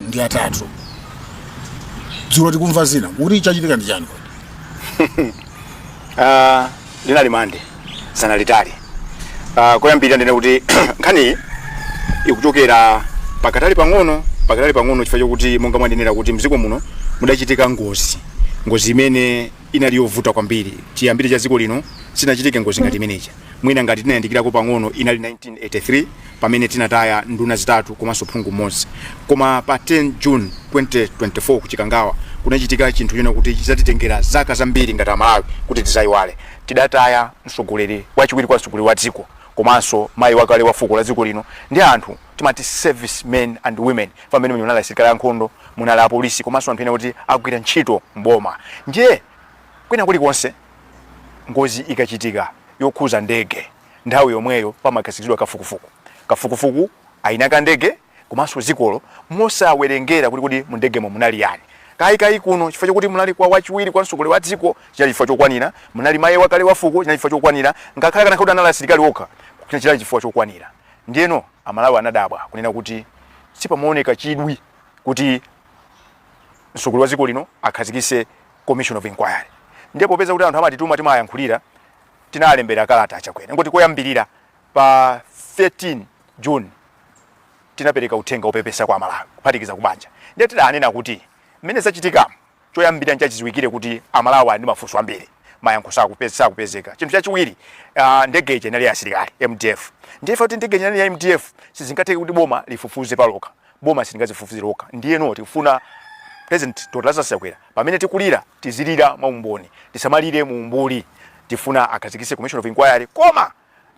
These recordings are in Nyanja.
ndi atatu dzulo tikumva zina kuti chachitika ndi chani Ah, linali mande tsiku lalitali Ah, koyambirira ndinene kuti nkhaniyi ikuchokera pakatali pang'ono pakatali pang'ono chifukwa chokuti monga mwanenera kuti mdziko muno mudachitika ngozi ngozi imene inali yovuta kwambiri chiyambire cha dziko lino sinachitike ngozi ngati imeneja Mwina ngati tinayandikirako pang'ono inali 1983 pamene tinataya nduna zitatu komanso phungu mmodzi. Koma pa 10 June 2024 ku Chikangawa kunachitika chinthu chonena kuti chidzatitengera zaka zambiri ngati Amalawi kuti tidzayiwale. Tidataya mtsogoleri, wachiwiri kwa mtsogoleri wa dziko komanso mayi wakale wa fuko la dziko lino ndi anthu timati service men and women chifukwa mmene munali asilikali ankhondo, munali apolisi komanso anthu ena oti amagwira ntchito m'boma. Ndiye Kwina kulikonse ngozi ikachitika yokhuza ndege, nthawi yomweyo pamakhazikitsidwa kafukufuku. Kafukufuku wa eni ake a ndege komanso dzikolo mosawerengera kuti kodi mu ndegemo munali ndani. Kaya kaya kuno chifukwa chokuti munali wachiwiri kwa mtsogoleri wa dziko chinali chifukwa chokwanira, munali mayi wakale wa fuko chinali chifukwa chokwanira, ngakhale akanakhala kuti anali asilikali okha chinali chifukwa chokwanira. Ndiyeno Amalawi anadabwa kunena kuti sipamaoneka chidwi kuti mtsogoleri wa dziko lino akhazikitse commission of inquiry ndiye popeza kuti anthu amatituma timayankhulira tinalembera kalata a Chakwera moti koyambirira pa 13 June tinapereka uthenga wopepesa kwa Amalawi kuphatikiza kubanja ndiye tidanena kuti mmene zachitikamu choyambirira nchachiziwikire kuti Amalawi ali ndi mafunso ambiri mayankho sakupeza sakupezeka chinthu chachiwiri uh, ndege ija inali ya asilikali MDF ndiye chifukwa kuti ndege ija inali ya MDF sizingatheke kuti boma lifufuze palokha boma silingadzifufuze lokha ndiyeno tifuna President Dr Lazarus Chakwera pamene tikulira tizilira mwa umboni tisamalire mu umbuli tifuna akhazikitse commission of inquiry koma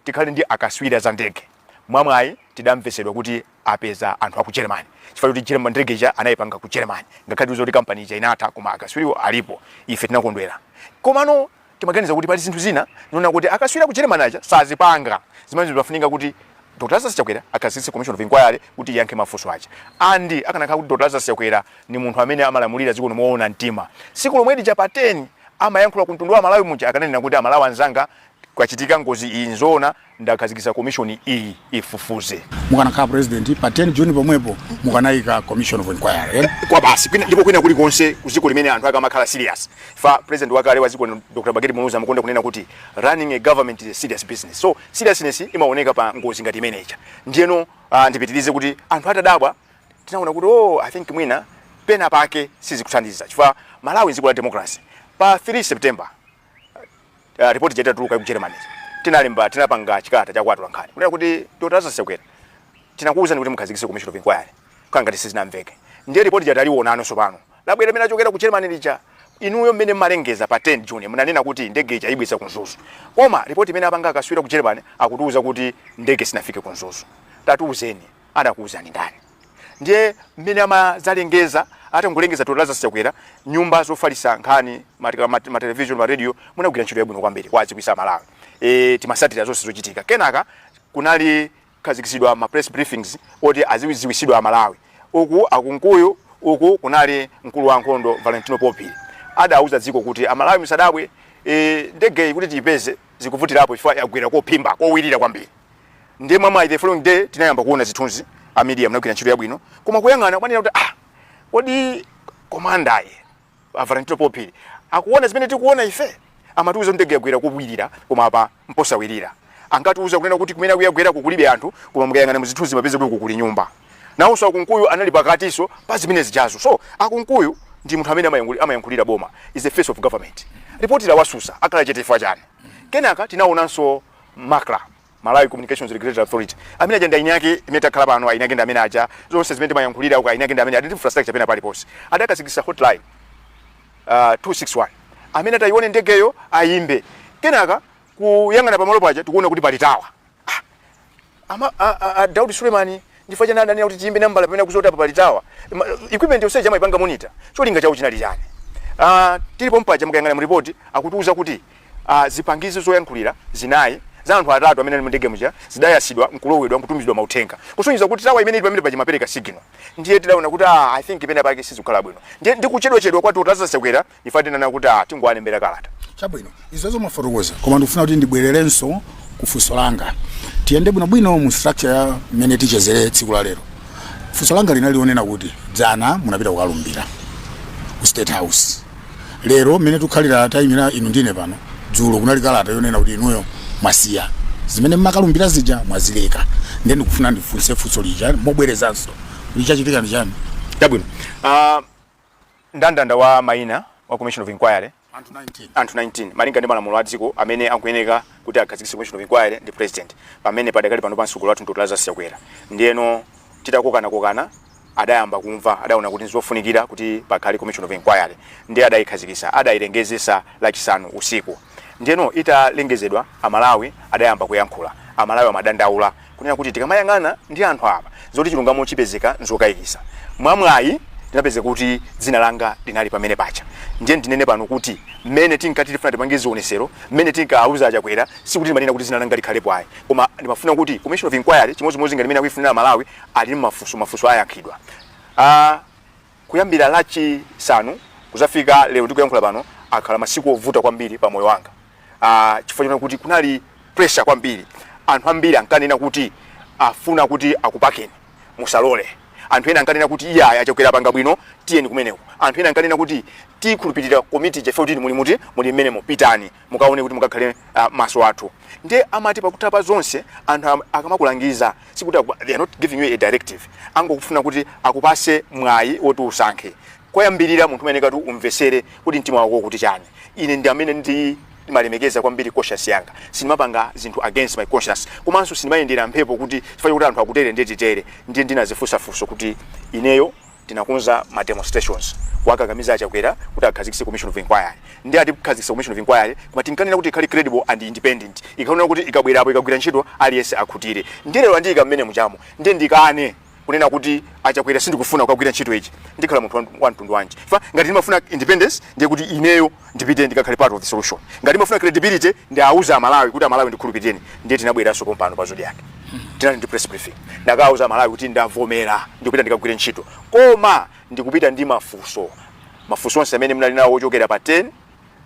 tikhale ndi akatswiri a za ndege mwamwayi tidamvetsedwa kuti apeza anthu aku Germany chifukwa kuti Germany ndege ija anayipanga ku Germany ngakhale zili kuti company ija inatha koma akatswiriwo alipo ife tinakondwera komano Timaganiza kuti pali zinthu zina zonena kuti akatswiri a ku Germany aja sazipanga zimene zimafunika kuti Dr Lazarus Chakwera akhazikitse commission of inquiry kuti iyankhe mafunso aja and akanakhala kuti Dr Lazarus Chakwera ni munthu amene amalamulira dziko lino moona mtima, tsiku lomwe lija pa 10 amayankhula ku mtundu wa Amalawi muja akananena kuti Amalawi anzanga kwachitika ngozi iyi, n'zoona. Ndakhazikitsa komishoni iyi ifufuze. mukanakhala president pa 10 June pomwepo mukanaika commission of inquiry eya basi kwina ndipo kwina kuli konse kudziko limene anthu akamakhala serious paja president wakale wa dziko lino, Dr Bakili Muluzi amakonda kunena kuti running a government is a serious business so seriousness imaoneka pa ngozi ngati imeneja ndiyeno uh, ndipitirize kuti anthu atadabwa tinaona kuti oh i think mwina pena pake sizikuthandiza chifukwa Malawi n'dziko la democracy pa 3 September uh, report ija itatuluka ku Germany tinalemba tinapanga chikalata cha kwa atolankhani kunena kuti Dr. Lazarus Chakwera tinakuwuzani kuti mukhazikise commission of inquiry kangati sizinamveke ndiye report lija taliwonano sopano labwera limene lachokera ku Germany lija inuyo mmene mmalengeza pa 10 June munanena kuti ndege ija aibweza ku Mzuzu koma report imene apanga akaswiri a ku Germany akutiuza kuti ndege sinafike ku Mzuzu tatiuzeni anakuuzani ndani ndiye mmene amadzalengeza atangolengeza Dr Lazarus Chakwera nyumba zofalisa nkhani matika ma, ma television ma radio munagwira ntchito yabwino kwambiri kuwaziwisa Amalawi e, timasatira zonse zochitika kenaka kunali khazikitsidwa ma press briefings oti aziziwisidwa Amalawi uku a Kunkuyu uku kunali mkulu wa nkhondo Valentino Paul Phiri adauza dziko kuti Amalawi misadabwe e, ndege kuti tiipeze zikuvutirapo chifukwa yagwera kophimba kowirira kwambiri ndiye mwa mwayi the following day tinayamba kuona zithunzi a media mnagwira ntchito yabwino koma kuyang'ana kunena kuti ah kodi komanda a Valentino Paul Phiri akuona zimene tikuona ife amatiuza kuti ndege yagwera kowirira koma apa mposawirira ankatiuza kunena kuti kumeneku yagweraku kulibe anthu koma mukayang'ana muzithunzi mupeza kuti uku kuli nyumba nawonso a Kunkuyu anali pakatiso pa zimene zijazo so a Kunkuyu ndi munthu amene amayankhuli- amayankhulira boma is the face of government ripoti lawasusa akhala chete chifukwa chani kenaka tinaonanso Macra, Malawi Communications Regulatory Authority. Amene aja ndi aini ake imene takhala pano aini ake ndi amene aja zonse zimene timayankhulira uko aini ake ndi amene ali ndi infrastructure pena paliponse. Adakhazikisa hotline uh, 261 amene atayione ndegeyo ayimbe kenaka kuyang'ana pamalo paja tikuona kuti pali tawa Ama, a, a, a Daudi Suleman chifukwa chani adanena kuti tiyimbe nambala pamene akuziwa kuti apa pali tawa Ma- equipment yonse ija amaipanga monitor cholinga chawo chinali chani Ah, tili pompaja mukayang'ana mu report akutiuza kuti ah, zipangizo zoyankhulira zinayi za anthu atatu amene ali mu ndege muja zidayasidwa nkulowedwa nkutumizidwa mauthenga kusonyeza kuti tawa imene ili pamene paja imapereka signal ndiye tidaona kuti ah, i think pena pake sizikukhala bwino ndiye ndi kuchedwachedwa kwa Dr Lazarus Chakwera ife tinanena kuti a tingowalembera kalata chabwino izozo mwafotokoza koma ndikufuna kuti ndibwererenso ku funso langa tiyende bwinobwino mu structure ya mmene tichezere tsiku la lero funso langa linali lonena kuti dzana munapita kukalumbira ku state house lero mmene tikukhalira tayimira inu ndine pano dzulo kunali kalata yonena kuti inuyo mwasiya zimene mmakalumbira zija mwazileka nde ndikufuna ndifunse funso lija mobwerezanso kuti chachitika ndi chani chabwino Ah, Ndandanda wa maina wa Commission of Inquiry Anthu 19 Malinga ndi malamulo a dziko amene akuyeneka kuti akhazikise Commission of Inquiry ndi President pamene padakali panopa mtsogoleri wathu ndi Dr Lazarus Chakwera ndiyeno titakokanakokana adayamba kumva adaona kuti ndizofunikira kuti pakhale Commission of Inquiry ndiye adayikhazikisa adayilengezesa lachisanu usiku. Ndiyeno italengezedwa, Amalawi adayamba kuyankhula. Amalawi amadandaula kunena kuti tikamayang'ana ndi anthu apa, zoti chilungamo chipezeka n'zokayikitsa. Mwamwayi, ndinapezeka kuti dzina langa linali pamene paja. Ndiye ndinene pano kuti mmene tinkati tifuna tipange zionesero, mmene tinkauza a Chakwera, sikuti ndimanena kuti dzina langa likhalepo ayi. Koma ndimafuna kuti Commission of Inquiry, chimodzimodzi ngati mmene akuifunira Amalawi, ali ndi mafunso, mafunso ayankhidwa. a. Kuyambira Lachisanu kudzafika lero tikuyankhula pano, akhala masiku ovuta kwambiri pa moyo wanga uh, chifukwa chona kuti kunali pressure kwambiri. Anthu ambiri ankanena kuti afuna kuti akupakeni, musalole. Anthu ena ankanena kuti iyayi a Chakwera apanga bwino, tiyeni kumeneko. Anthu ena ankanena kuti tikhulupirira komitiyo ife kuti muli muti muli mmenemo pitani. mukaone kuti mukakhale ah, maso athu ndiye amati pakutha pa zonse anthu am- akamakulangiza sikuti aku- they are not giving you a directive angokufuna kuti akupase mwayi woti usankhe koyambirira munthu umayeneka kuti umvesere kuti mtima wako ukuti chani ine ndi amene ndimalemekeza kwambiri conscience yanga sindimapanga zinthu against my conscience komanso sindimayendera mphepo kuti chifukwa kuti anthu akutere nde titere ndiye ndinazifunsa funso kuti ineyo tinakonza ma demonstrations kuwakakamiza a Chakwera kuti akhazikise commission of inquiry nde atikhazikisira commission of inquiry koma tinkanena kuti ikhale credible and independent yoonena kuti ikabwerapo ikagwira ntchito aliyense akhutire nde lero andiika mmene mujamo nde ndikane kunena kuti a Chakwera sindikufuna kukagwira ntchito iyi ndikhala munthu wa- wa mtundu wanji fa ngati ndimafuna independence ndiye kuti ineyo ndipite ndikakhale part of the solution ngati ndimafuna credibility ndiwauze amalawi kuti amalawi ndikhulupirireni ndiye tinabweranso pompano pa Zodiak tinali ndi press briefing ndinakauza amalawi kuti ndavomera ndikupita ndikagwire ntchito koma ndikupita ndi mafunso mafunso onse amene mnali nawo ochokera pa 10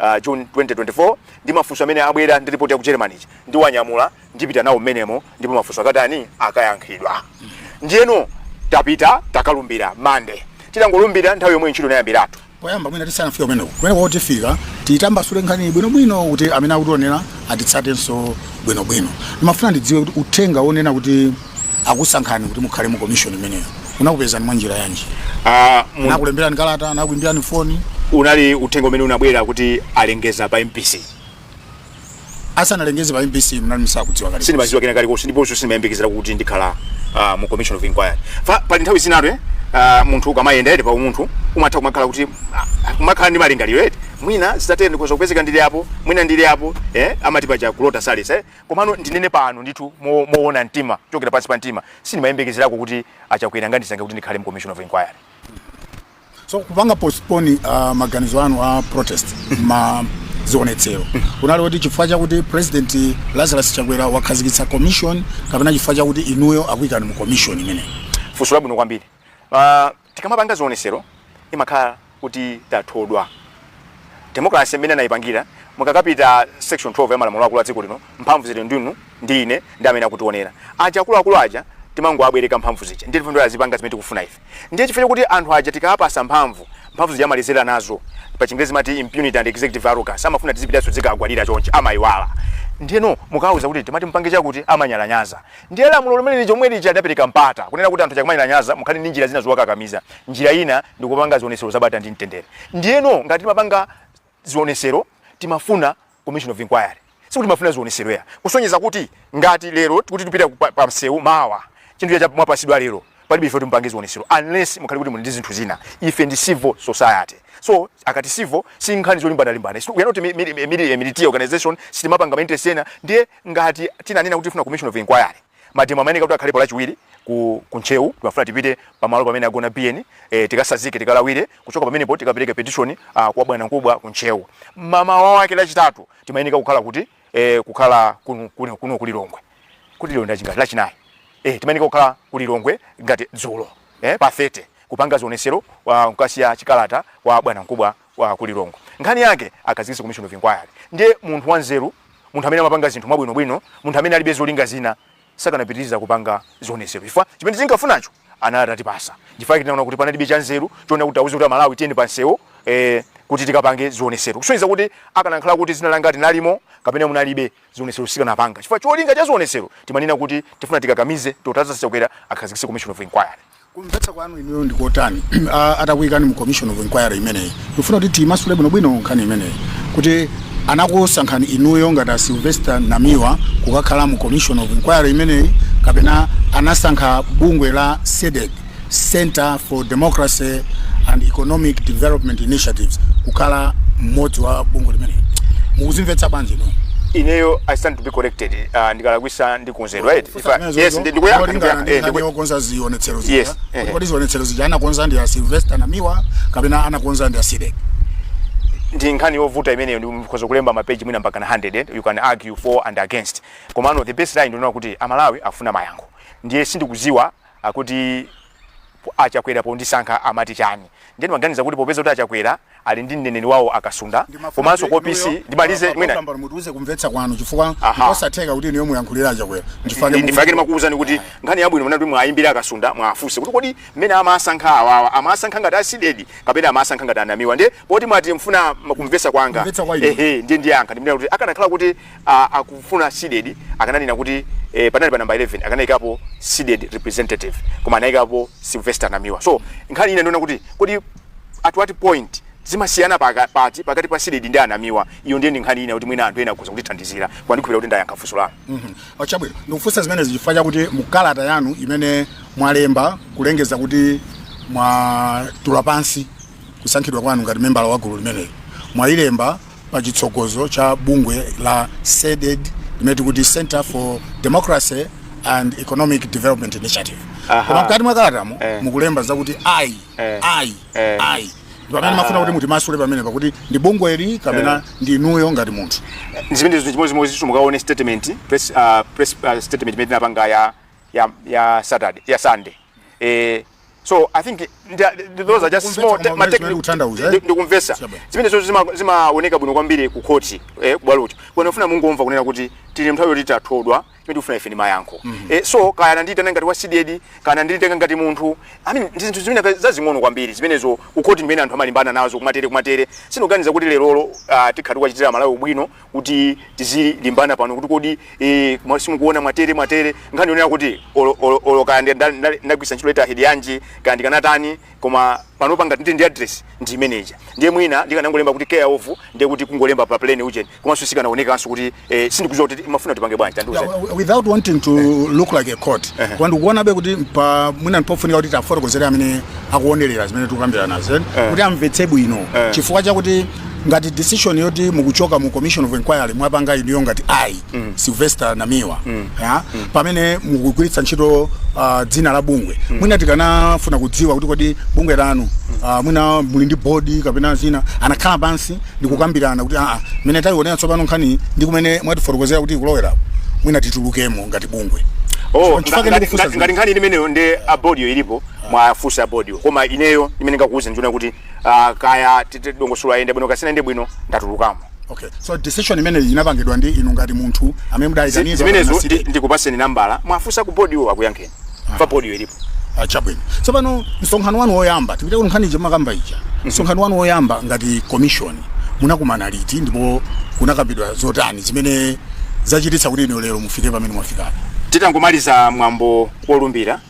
uh, june 2024 ndi mafunso amene abwera ndi report ya ku germany ija ndiwanyamula ndipita nawo mmenemo ndipo mafunso akatani akayankhidwa ndiyeno tapita takalumbira mande titangolumbira nthawi yomweyo ntchito inayambiratu poyamba mwina tisanafika kumeneko kumeneko tifika tiyitambasule nkhani bwinobwino kuti amene akutionera atitsatenso bwinobwino ndimafuna ndidziwe kuti uthenga wonena kuti akusankhani kuti mukhale mu komishoni imeneyo unakupezani mwa njira yanji Ah, mu- anakulemberani kalata anakuimbirani foni unali uthenga umene unabwera kuti alengeza pa mbc asanalengeze pa mbc mnali musakudziwa kale sindimaziwa kena kalikonse ndiponso sindimayembekezera kuti ndikhala ah, mu commission of inquiry Fa- pali nthawi zinatu eh, ah, munthu ukamayenda eti pa umunthu umatha kumakhala kuti ah, kumakhala ndi malingaliro eti mwina zitatere nditha kupezeka ndili apo mwina ndili apo eh, amati paja kulota saletsa eh. komano ndinene pano ndithu mo- moona mtima kuchokera pansi pa mtima sindimayembekezerako kuti achakwera angandisankhe kuti ndikhale mu commission of inquiry so kupanga postpone uh, maganizo anu a protest ma zionetsero kunali kuti chifukwa chakuti president lazarus chakwera wakhazikitsa commission kapena chifukwa chakuti inuyo akuyikani mu commission imeneyi funso labwino kwambiri uh, tikamapanga zionesero timakhala kuti tathodwa Democracy mmene anaipangira mukakapita section 12 ya malamulo akulu a dziko lino mphamvu zili ndinu ndi ine ndi amene akutionera aja akuluakulu aja timangowabwereka mphamvu zija ndiye tifuna azipanga zimene tikufuna ife ndiye chifukwa chakuti anthu aja tikawapasa mphamvu mphamvu zija amaledzera nazo pa chingerezi amati impunity and executive arrogance amafuna tizipitanso tizikagwadira chonchi amaiwala ndiyeno mukawauza kuti timati mupange chakuti amanyalanyaza Ndiye lamulo lomwe liri chomwe lija lidapereka mpata kunena kuti anthu aja akamanyalanyaza mukhale ndi njira zina zowakakamiza. Njira ina ndi kupanga zionesero zabata ndi mtendere. Ndiyeno ngati timapanga zionesero timafuna commission of inquiry. Sikuti timafuna zionesero ayi kusonyeza kuti ngati lero kuti tipita pa, pa msewu mawa chinthu chija mwapasidwa lero palibe ife timupange zionesero unless mukhale kuti muli ndi zinthu zina. Ife ndi civil society. So akati civil si nkhani zolimbana limbana. We are not a military organization. Sitimapanga ma interest ena. Ndiye Ngati tinanena kuti tikufuna commission of inquiry, mademo amayeneka kuti akhalepo lachiwiri ku ku Ntcheu, timafuna tipite pa malo pamene agona Biyeni, eh, tikasazike, tikalawire, kuchoka pamenepo tikapereke petition ah, kwa bwanamkubwa ku Ntcheu. Mmamawa wake lachitatu timayeneka kukhala kuti, eh, kukhala kuno, kuno, kuno ku Lilongwe. Kodi lero ndi lachingati? Lachinayi. Eh, timayeneka kukhala ku Lilongwe ngati dzulo, eh, pa 30 kupanga zionesero kwa kukasiya chikalata kwa bwanamkubwa wa ku Lilongwe. Nkhani yake akhazikitse commission of inquiry. Ndiye munthu wanzeru, munthu amene amapanga zinthu mwabwinobwino, munthu amene alibe zolinga zina sakanapitiriza kupanga zionetsero chifukwa chimene tinkafunacho anali atatipasa. Chifukwa chake tinaona kuti panalibe chanzeru chonena kuti tiwauze kuti Amalawi tiyeni pansewu eh, kuti tikapange zionetsero. Kusonyeza kuti akanakhala kuti dzina langa linalimo kapena munalibe zionetsero sitikanapanga. Chifukwa cholinga cha zionetsero timanena kuti tifuna tikakamize Dr. Lazarus Chakwera akhazikitse commission of inquiry. Kumvetsa kwanu inuyo ndi kotani ah, atakuyikani mu commission of inquiry imeneyi? Ndikufuna kuti timasule bwinobwino nkhani imeneyi kuti anakusankhani inuyo ngati a Sylvester Namiwa kukakhala mu commission of inquiry imeneyi kapena anasankha bungwe la CDEDI Center for Democracy and Economic Development Initiatives kukhala mmodzi wa bungwe limeneli. Mukuzimvetsa bwanji inu? ineyo i stand to be corrected uh, ndikalakwisa ndikonzedwa eti yes ndi ndikuyankha ndikuyankha eh ndikuyankha ndikuyakonza zionetsero Yes, zija eh. kodi zionetsero zija anakonza ndi a Sylvester Namiwa kapena anakonza ndi a CDEDI ndi nkhani yovuta imeneyo ndikhoza kulemba mapeji mwina mpaka na 100 eh? you can argue for and against komano the best line ndi yonena kuti amalawi afuna mayankho ndiye sindikuziwa kuti a chakwera pondisankha amati chani ndiye ndimaganiza kuti popeza kuti a chakwera ali ndi mneneri wawo a kasunda komanso ku opc ndimalize mwina mutiuze kumvetsa kwanu chifukwa Aha. ndikosatheka kuti inuyo muyankhulire a chakwera Ndi- nchifukwa chake ndimakuwuzani kuti nkhani yabwino mnati muwayimbire a kasunda muwafunse kuti kodi mmene amasankha awawa amasankha ngati a CDEDI kapena amasankha ngati a namiwa ndiye poti mwati mufuna kumvetsa kwanga Kumvetsa kwa inu. ehe ndiye ndiyankha ndimene kuti akanakhala kuti a, akufuna CDEDI akananena kuti eh, panali pa number 11 akanayikapo CDEDI representative koma anayikapo Sylvester Namiwa so nkhani ina ndi yonena kuti kodi at what point zimasiyana paka- pati pakati pa CDEDI ndi a Namiwa iyo ndiye ndi nkhani ina kuti mwina anthu ena akhoza kutithandizira koma ndikhulupirira kuti ndayankha funso lanu a chabwino ndikufunsa zimenezi chifukwa chakuti mukalata yanu imene mwalemba kulengeza kuti mwatula pansi kusankhidwa kwanu ngati membala wa gulu limeneli mwayilemba pa chitsogozo cha bungwe la CDEDI limene tikuti Centre for Democracy and Economic Development Initiative Aha. koma mkati mwa kalatamo Eh. mukulemba zakuti I Eh. I Eh. I pamene Aha. mafuna kuti mutimasule pamene pakuti ndi bungweli kapena ndi inuyo ngati munthu zimenezo ndi zinthu chimodzi chimodzi chithu mukaone statement press uh, press uh, statement imene tinapanga ya ya ya Saturday ya Sunday eh so i think nda- th- those are just Kumvetsa small te- ma kumamvetsa technical- uthandauza, eh? ndi- ndikumvesa Chabwino. zimenezozo zima- zimaoneka bwino kwambiri ku khoti eh, kubwalocho bwana mafuna mungomva kunena kuti tili nthawi yoti tathodwa chimene tifuna ife ndi mayankho eh, so kaya anandiyitana ngati wa CDEDI kaya ananditenga ngati munthu i mean ndi zinthu zimene zazing'ono kwambiri zimenezo ku khoti ndimene anthu amalimbana nazo kumatere kumatere sindikuganiza kuti lerolo ah, tikhala tikuwachitira malawi ubwino kuti tizilimbana pano kuti kodi eh, mwa- simukuona mwatere mwatere nkhani yonena kuti olo- olo- olo kaya ndi- nda- nda- ndagwiritsa ntchito letterhead yanji kaya ndikanatani koma pano panga ndi ndi address ndi imeneja ndiye mwina ndikanangolemba kuti care of ndiye kuti kungolemba pa plain ujeni komanso sikanaonekanso kuti eh, sindikuziwa kuti mafuna tipange bwanji tandiuzani Yeah, w- without wanting to look like a court koma ndikuonabe kuti pa mwina ndipofunika kuti tafotokozere amene akuonerera zimene tikukambirana zen kuti amvetse bwino chifukwa chakuti ngati decision yoti mukuchoka mu commission of inquiry mwapanga inuyo ngati I mm. Sylvester Namiwa mm. ya mm. pamene mukugwiritsa ntchito uh, dzina la bungwe mm. mwina tikanafuna kudziwa kuti kodi bungwe lanu uh, mwina muli ndi bodi kapena zina anakhala pansi ndikukambirana kuti aa mene taionera tsopano nkhani ndi kumene mwatifotokozera kuti ikulowera mwina titulukemo ngati bungwe Oh, Chifukwa ngati- ndikufunsa ngati ngati nkhani imeneyo ndi abodiyo ilipo muwafunsa abodiyo koma ineyo chimene ndikukuuzani ndi choti uh, kaya ndi dongosolo layenda bwino kaya sinayende bwino ndatulukamo okay so decision imene inapangidwa ndi inu ngati munthu amene mudaitanidwa zimenezo ndikupatseni nambala muwafunsa ku bodi iwo akuyankheni ah. poti bodi ilipo ah, chabwino tsopano msonkhano wanu woyamba tipite kunkhani imene mumakamba ija mhm. msonkhano wanu woyamba ngati commission munakumana liti ndipo kunakambidwa zotani zimene zachititsa kuti inu lero mufike pamene mwafikapo titangomaliza mwambo wolumbira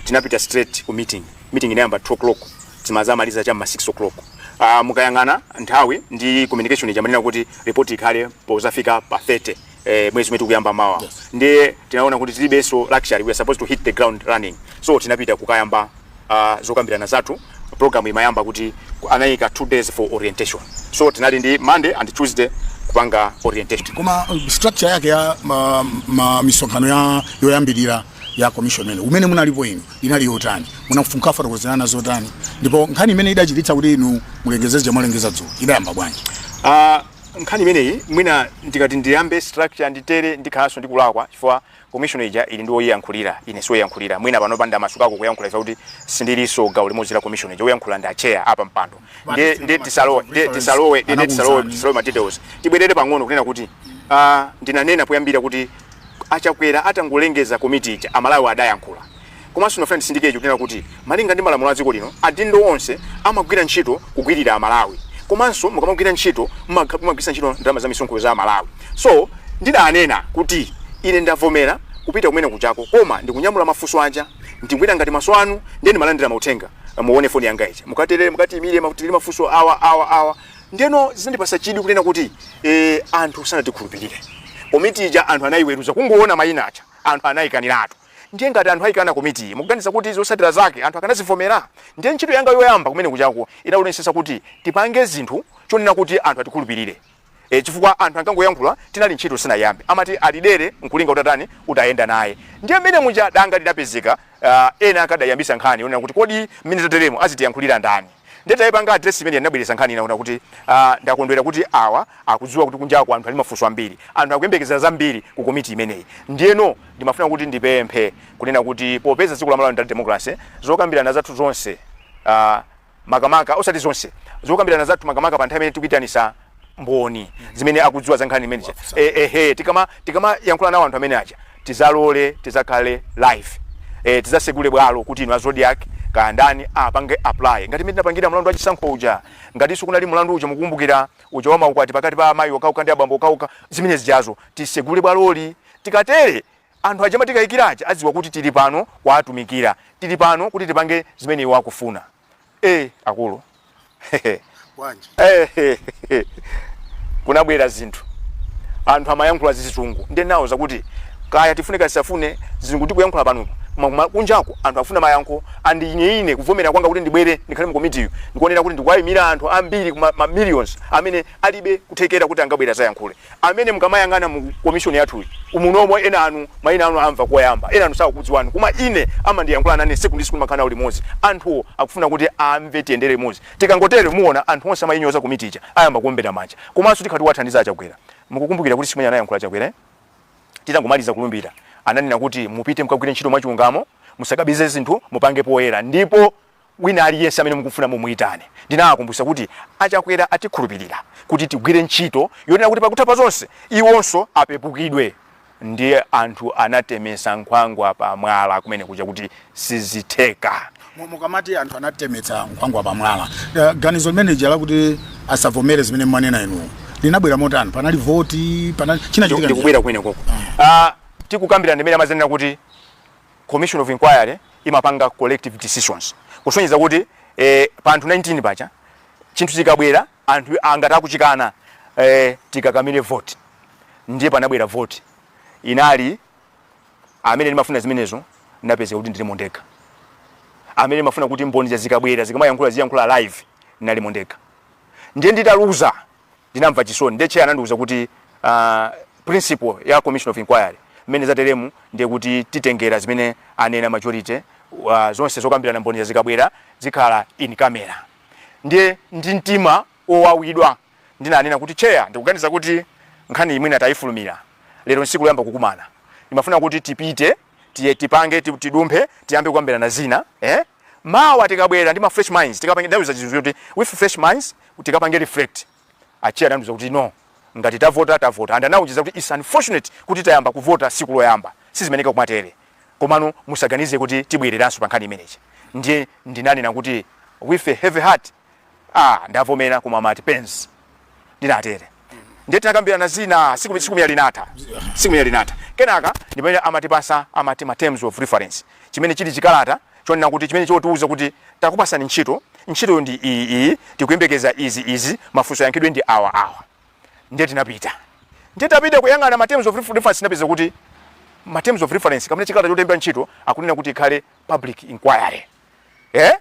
tinapita straight ku meeting meeting inayamba 2 o'clock timazamaliza cha m'ma 6 o'clock uh, mukayang'ana nthawi ndi communication ija imanena kuti report ikhale pozafika pa 30 eh, mwezi umene tikuyamba mawa yes. ndiye tinaona kuti tilibenso luxury we are supposed to hit the ground running so tinapita kukayamba uh, zokambirana zathu program imayamba kuti ku- anayika two days for orientation so tinali ndi monday and tuesday kupanga orientation koma uh, structure yake ya ma, ma misonkhano ya yoyambirira ya commission imene umene munalipo inu inali yotani? Munafunika kufotokozerana zotani? Ndipo nkhani imene idachititsa kuti inu mulengeze zija mwalengeza dzulo idayamba bwanji? Uh, nkhani imeneyi mwina ndikati ndiyambe structure nditere ndikhalanso ndikulakwa chifukwa commission ija ili ndi woyiyankhulira ine siwoyiyankhulira mwina pano pa ndamasukako kuyankhula ifa kuti sindilinso gawo limodzi la commission ija woyankhula ndi a chair apampando ndiye ndiye tisalowe ndiye tisalowe ndiye tisalowe tisalowe ma details tibwerere pang'ono kunena kuti uh, ndinanena poyambira kuti a Chakwera atangolengeza komiti ija, a Malawi adayankhula. Komanso ndikufuna nditsindike kunena kuti malinga ndi malamulo a dziko lino, adindo onse amagwira ntchito kugwirira a Malawi. Komanso mukamagwira ntchito mumagwiritsa ntchito ndalama za misonkho za a Malawi. So, ndidanena kuti ine ndavomera kupita kumene kuja koma ndikunyamula mafunso aja, ndigwira ngati maso anu ndiye ndimalandira mauthenga. Muone foni yanga ija. Mukatere mukatiyimire, tili mafunso awa, awa, awa. Ndeno zinandipasa chidwi kunena kuti eh, anthu sanatikhulupirire komiti ija anthu anayiweruza kungoona mayina aja anthu anayikaniratu ndiye ngati anthu ayikana komiti iyi mukuganiza kuti zotsatira zake anthu akadzazivomera ndiye ntchito yanga yoyamba kumene kujako inali kuonetsetsa kuti tipange zinthu zonena kuti anthu atikhulupirire e, chifukwa anthu ankangoyankhula chinali ntchito sinayambe amati kuli dere nkulinga utatayenda utayenda naye ndiye mmene muja danga lidapezeka uh, ena akadayambisa nkhani yonena kuti kodi mmene tateremo azitiyankhulira ndani Ndiye titaipanga address imeneyi ndinabweretsa nkhani ina yonena kuti ah, ndakondwera kuti awa akudziwa kuti kunjako anthu ali ndi mafunso ambiri, anthu akuyembekeza zambiri ku komiti imeneyi. Ndiyeno ndimafuna kuti ndipemphe kunena kuti popeza dziko la Malawi ndi la democracy, zokambirana zathu zonse ah, makamaka, osati zonse, zokambirana zathu makamaka pa nthawi imene tikuitanitsa mboni zimene akudziwa za nkhani imeneja Eh, ehe tikama tikamayankhula nawo anthu amene aja tizalole tizakhale live eh, tizasegule bwalo kuti inu a Zodiak kaya ndani apange apply ngati mmene tinapangira mlandu wa chisankho uja ngatinso kunali mlandu uja mukukumbukira uja wa maukwati pakati pa amayi okhaokha ndi abambo okhaokha zimene zijazo tisegule bwaloli tikatere anthu aja amatikayikira aja adziwa kuti tili pano kuwatumikira tili pano kuti tipange zimene iwo akufuna Eh, akulu. Wanji. Eh, kunabwera zinthu. Anthu amayankhula zizungu. Ndiye ndinawauza kuti kaya tifune kaya tisafune zizungu tikuyankhula pano. Koma kuma- kunjako anthu afuna mayankho and ine ine kuvomera kwanga kuti ndibwere ndikhale mu komitiyi ndikuona kuti ndikuwayimira anthu ambiri ma ma millions amene alibe kuthekera kuti angabwere adzayankhule. amene mukamayang'ana mu komishoni yathuyi umunomo enanu maina anu amva koyamba enanu sakukudziwani komwe ine amandiyankhula nane siku ndi siku ndimakhala nawo limodzi anthuwo akufuna kuti amve tiyendere limodzi tikangotere muona anthu onse amainyoza komiti ija ayamba kuombera manja komanso tikhala tikuwathandiza achakwera mukukumbukira kuti siku imene anayankhula chakwera eh? titangomaliza kulumbira ananena kuti mupite mukagwire ntchito mwachilungamo musakabise zinthu mupange poyera ndipo Wina aliyense amene mukufuna mumuitane. Ndinawakumbutsa kuti a Chakwera atikhulupilira kuti tigwire ntchito yonena kuti pakutha pa zonse iwonso apepukidwe ndiye anthu anatemetsa nkhwangwa pa mwala kumene kuja kuti sizitheka. Mukamati anthu anatemetsa nkhwangwa pa mwala, ganizo limene lija lakuti asavomere zimene mwanena inu linabwera motani? Panali voti, panali, chinachitika ndi chiyani? Ndikubwera kumenekoko. Tikukambirana ndi mmene amadzanena kuti Commission of Inquiry imapanga collective decisions kusonyeza kuti eh, pa anthu 19 paja chinthu chikabwera anthu angati akuchikana eh, tikakamire vote ndiye panabwera vote inali amene ndimafuna zimenezo ndapeza kuti ndilimo ndekha amene ndimafuna kuti mboni zikabwera zikamayankhula ziyankhula live ndinalimo ndekha ndiye nditaluza ndinamva chisoni ndiye chair anandiuza kuti uh, principle ya commission of inquiry mmene zateremu ndiye kuti titengera zimene anena majority uh, zonse zokambirana mboni zikabwera zikhala in camera ndiye ndi mtima wowawidwa ndinanena kuti chair ndikuganiza kuti nkhaniyi mwina tayifulumira lero nsiku loyamba kukumana imafuna kuti tipite tiye tipange ti- tidumphe tiyambe kukambirana zina eh? mawa tikabwera ndi ma fresh minds tikapange ndauza chizungu kuti with fresh minds tikapange reflect a chair anandiuza kuti no ngati tavota tavota and anaujiza kuti it's unfortunate kuti tayamba kuvota siku loyamba sizimeneka kumatere komano musaganize kuti tibwereranso pa nkhani imeneyi ndiye ndinanena kuti with a heavy heart ah ndavomera koma I'm at pains ndinatere ndiye tinakambirana zina tsiku tsiku lija linatha tsiku lija linatha kenaka ndi pamene amatipatsa amati ma terms of reference chimene chili chikalata chonena kuti chimene chotiuza kuti takupatsani ntchito ntchito ndi iyi iyi tikuyembekeza izi izi mafunso ayankhidwe ndi awa awa ndiye tinapita ndiye tapita kuyang'ana ma terms of refer- reference tinapeza kuti ma terms of reference amene chikalata chotilemba ntchito akunena kuti ikhale public inquiry eh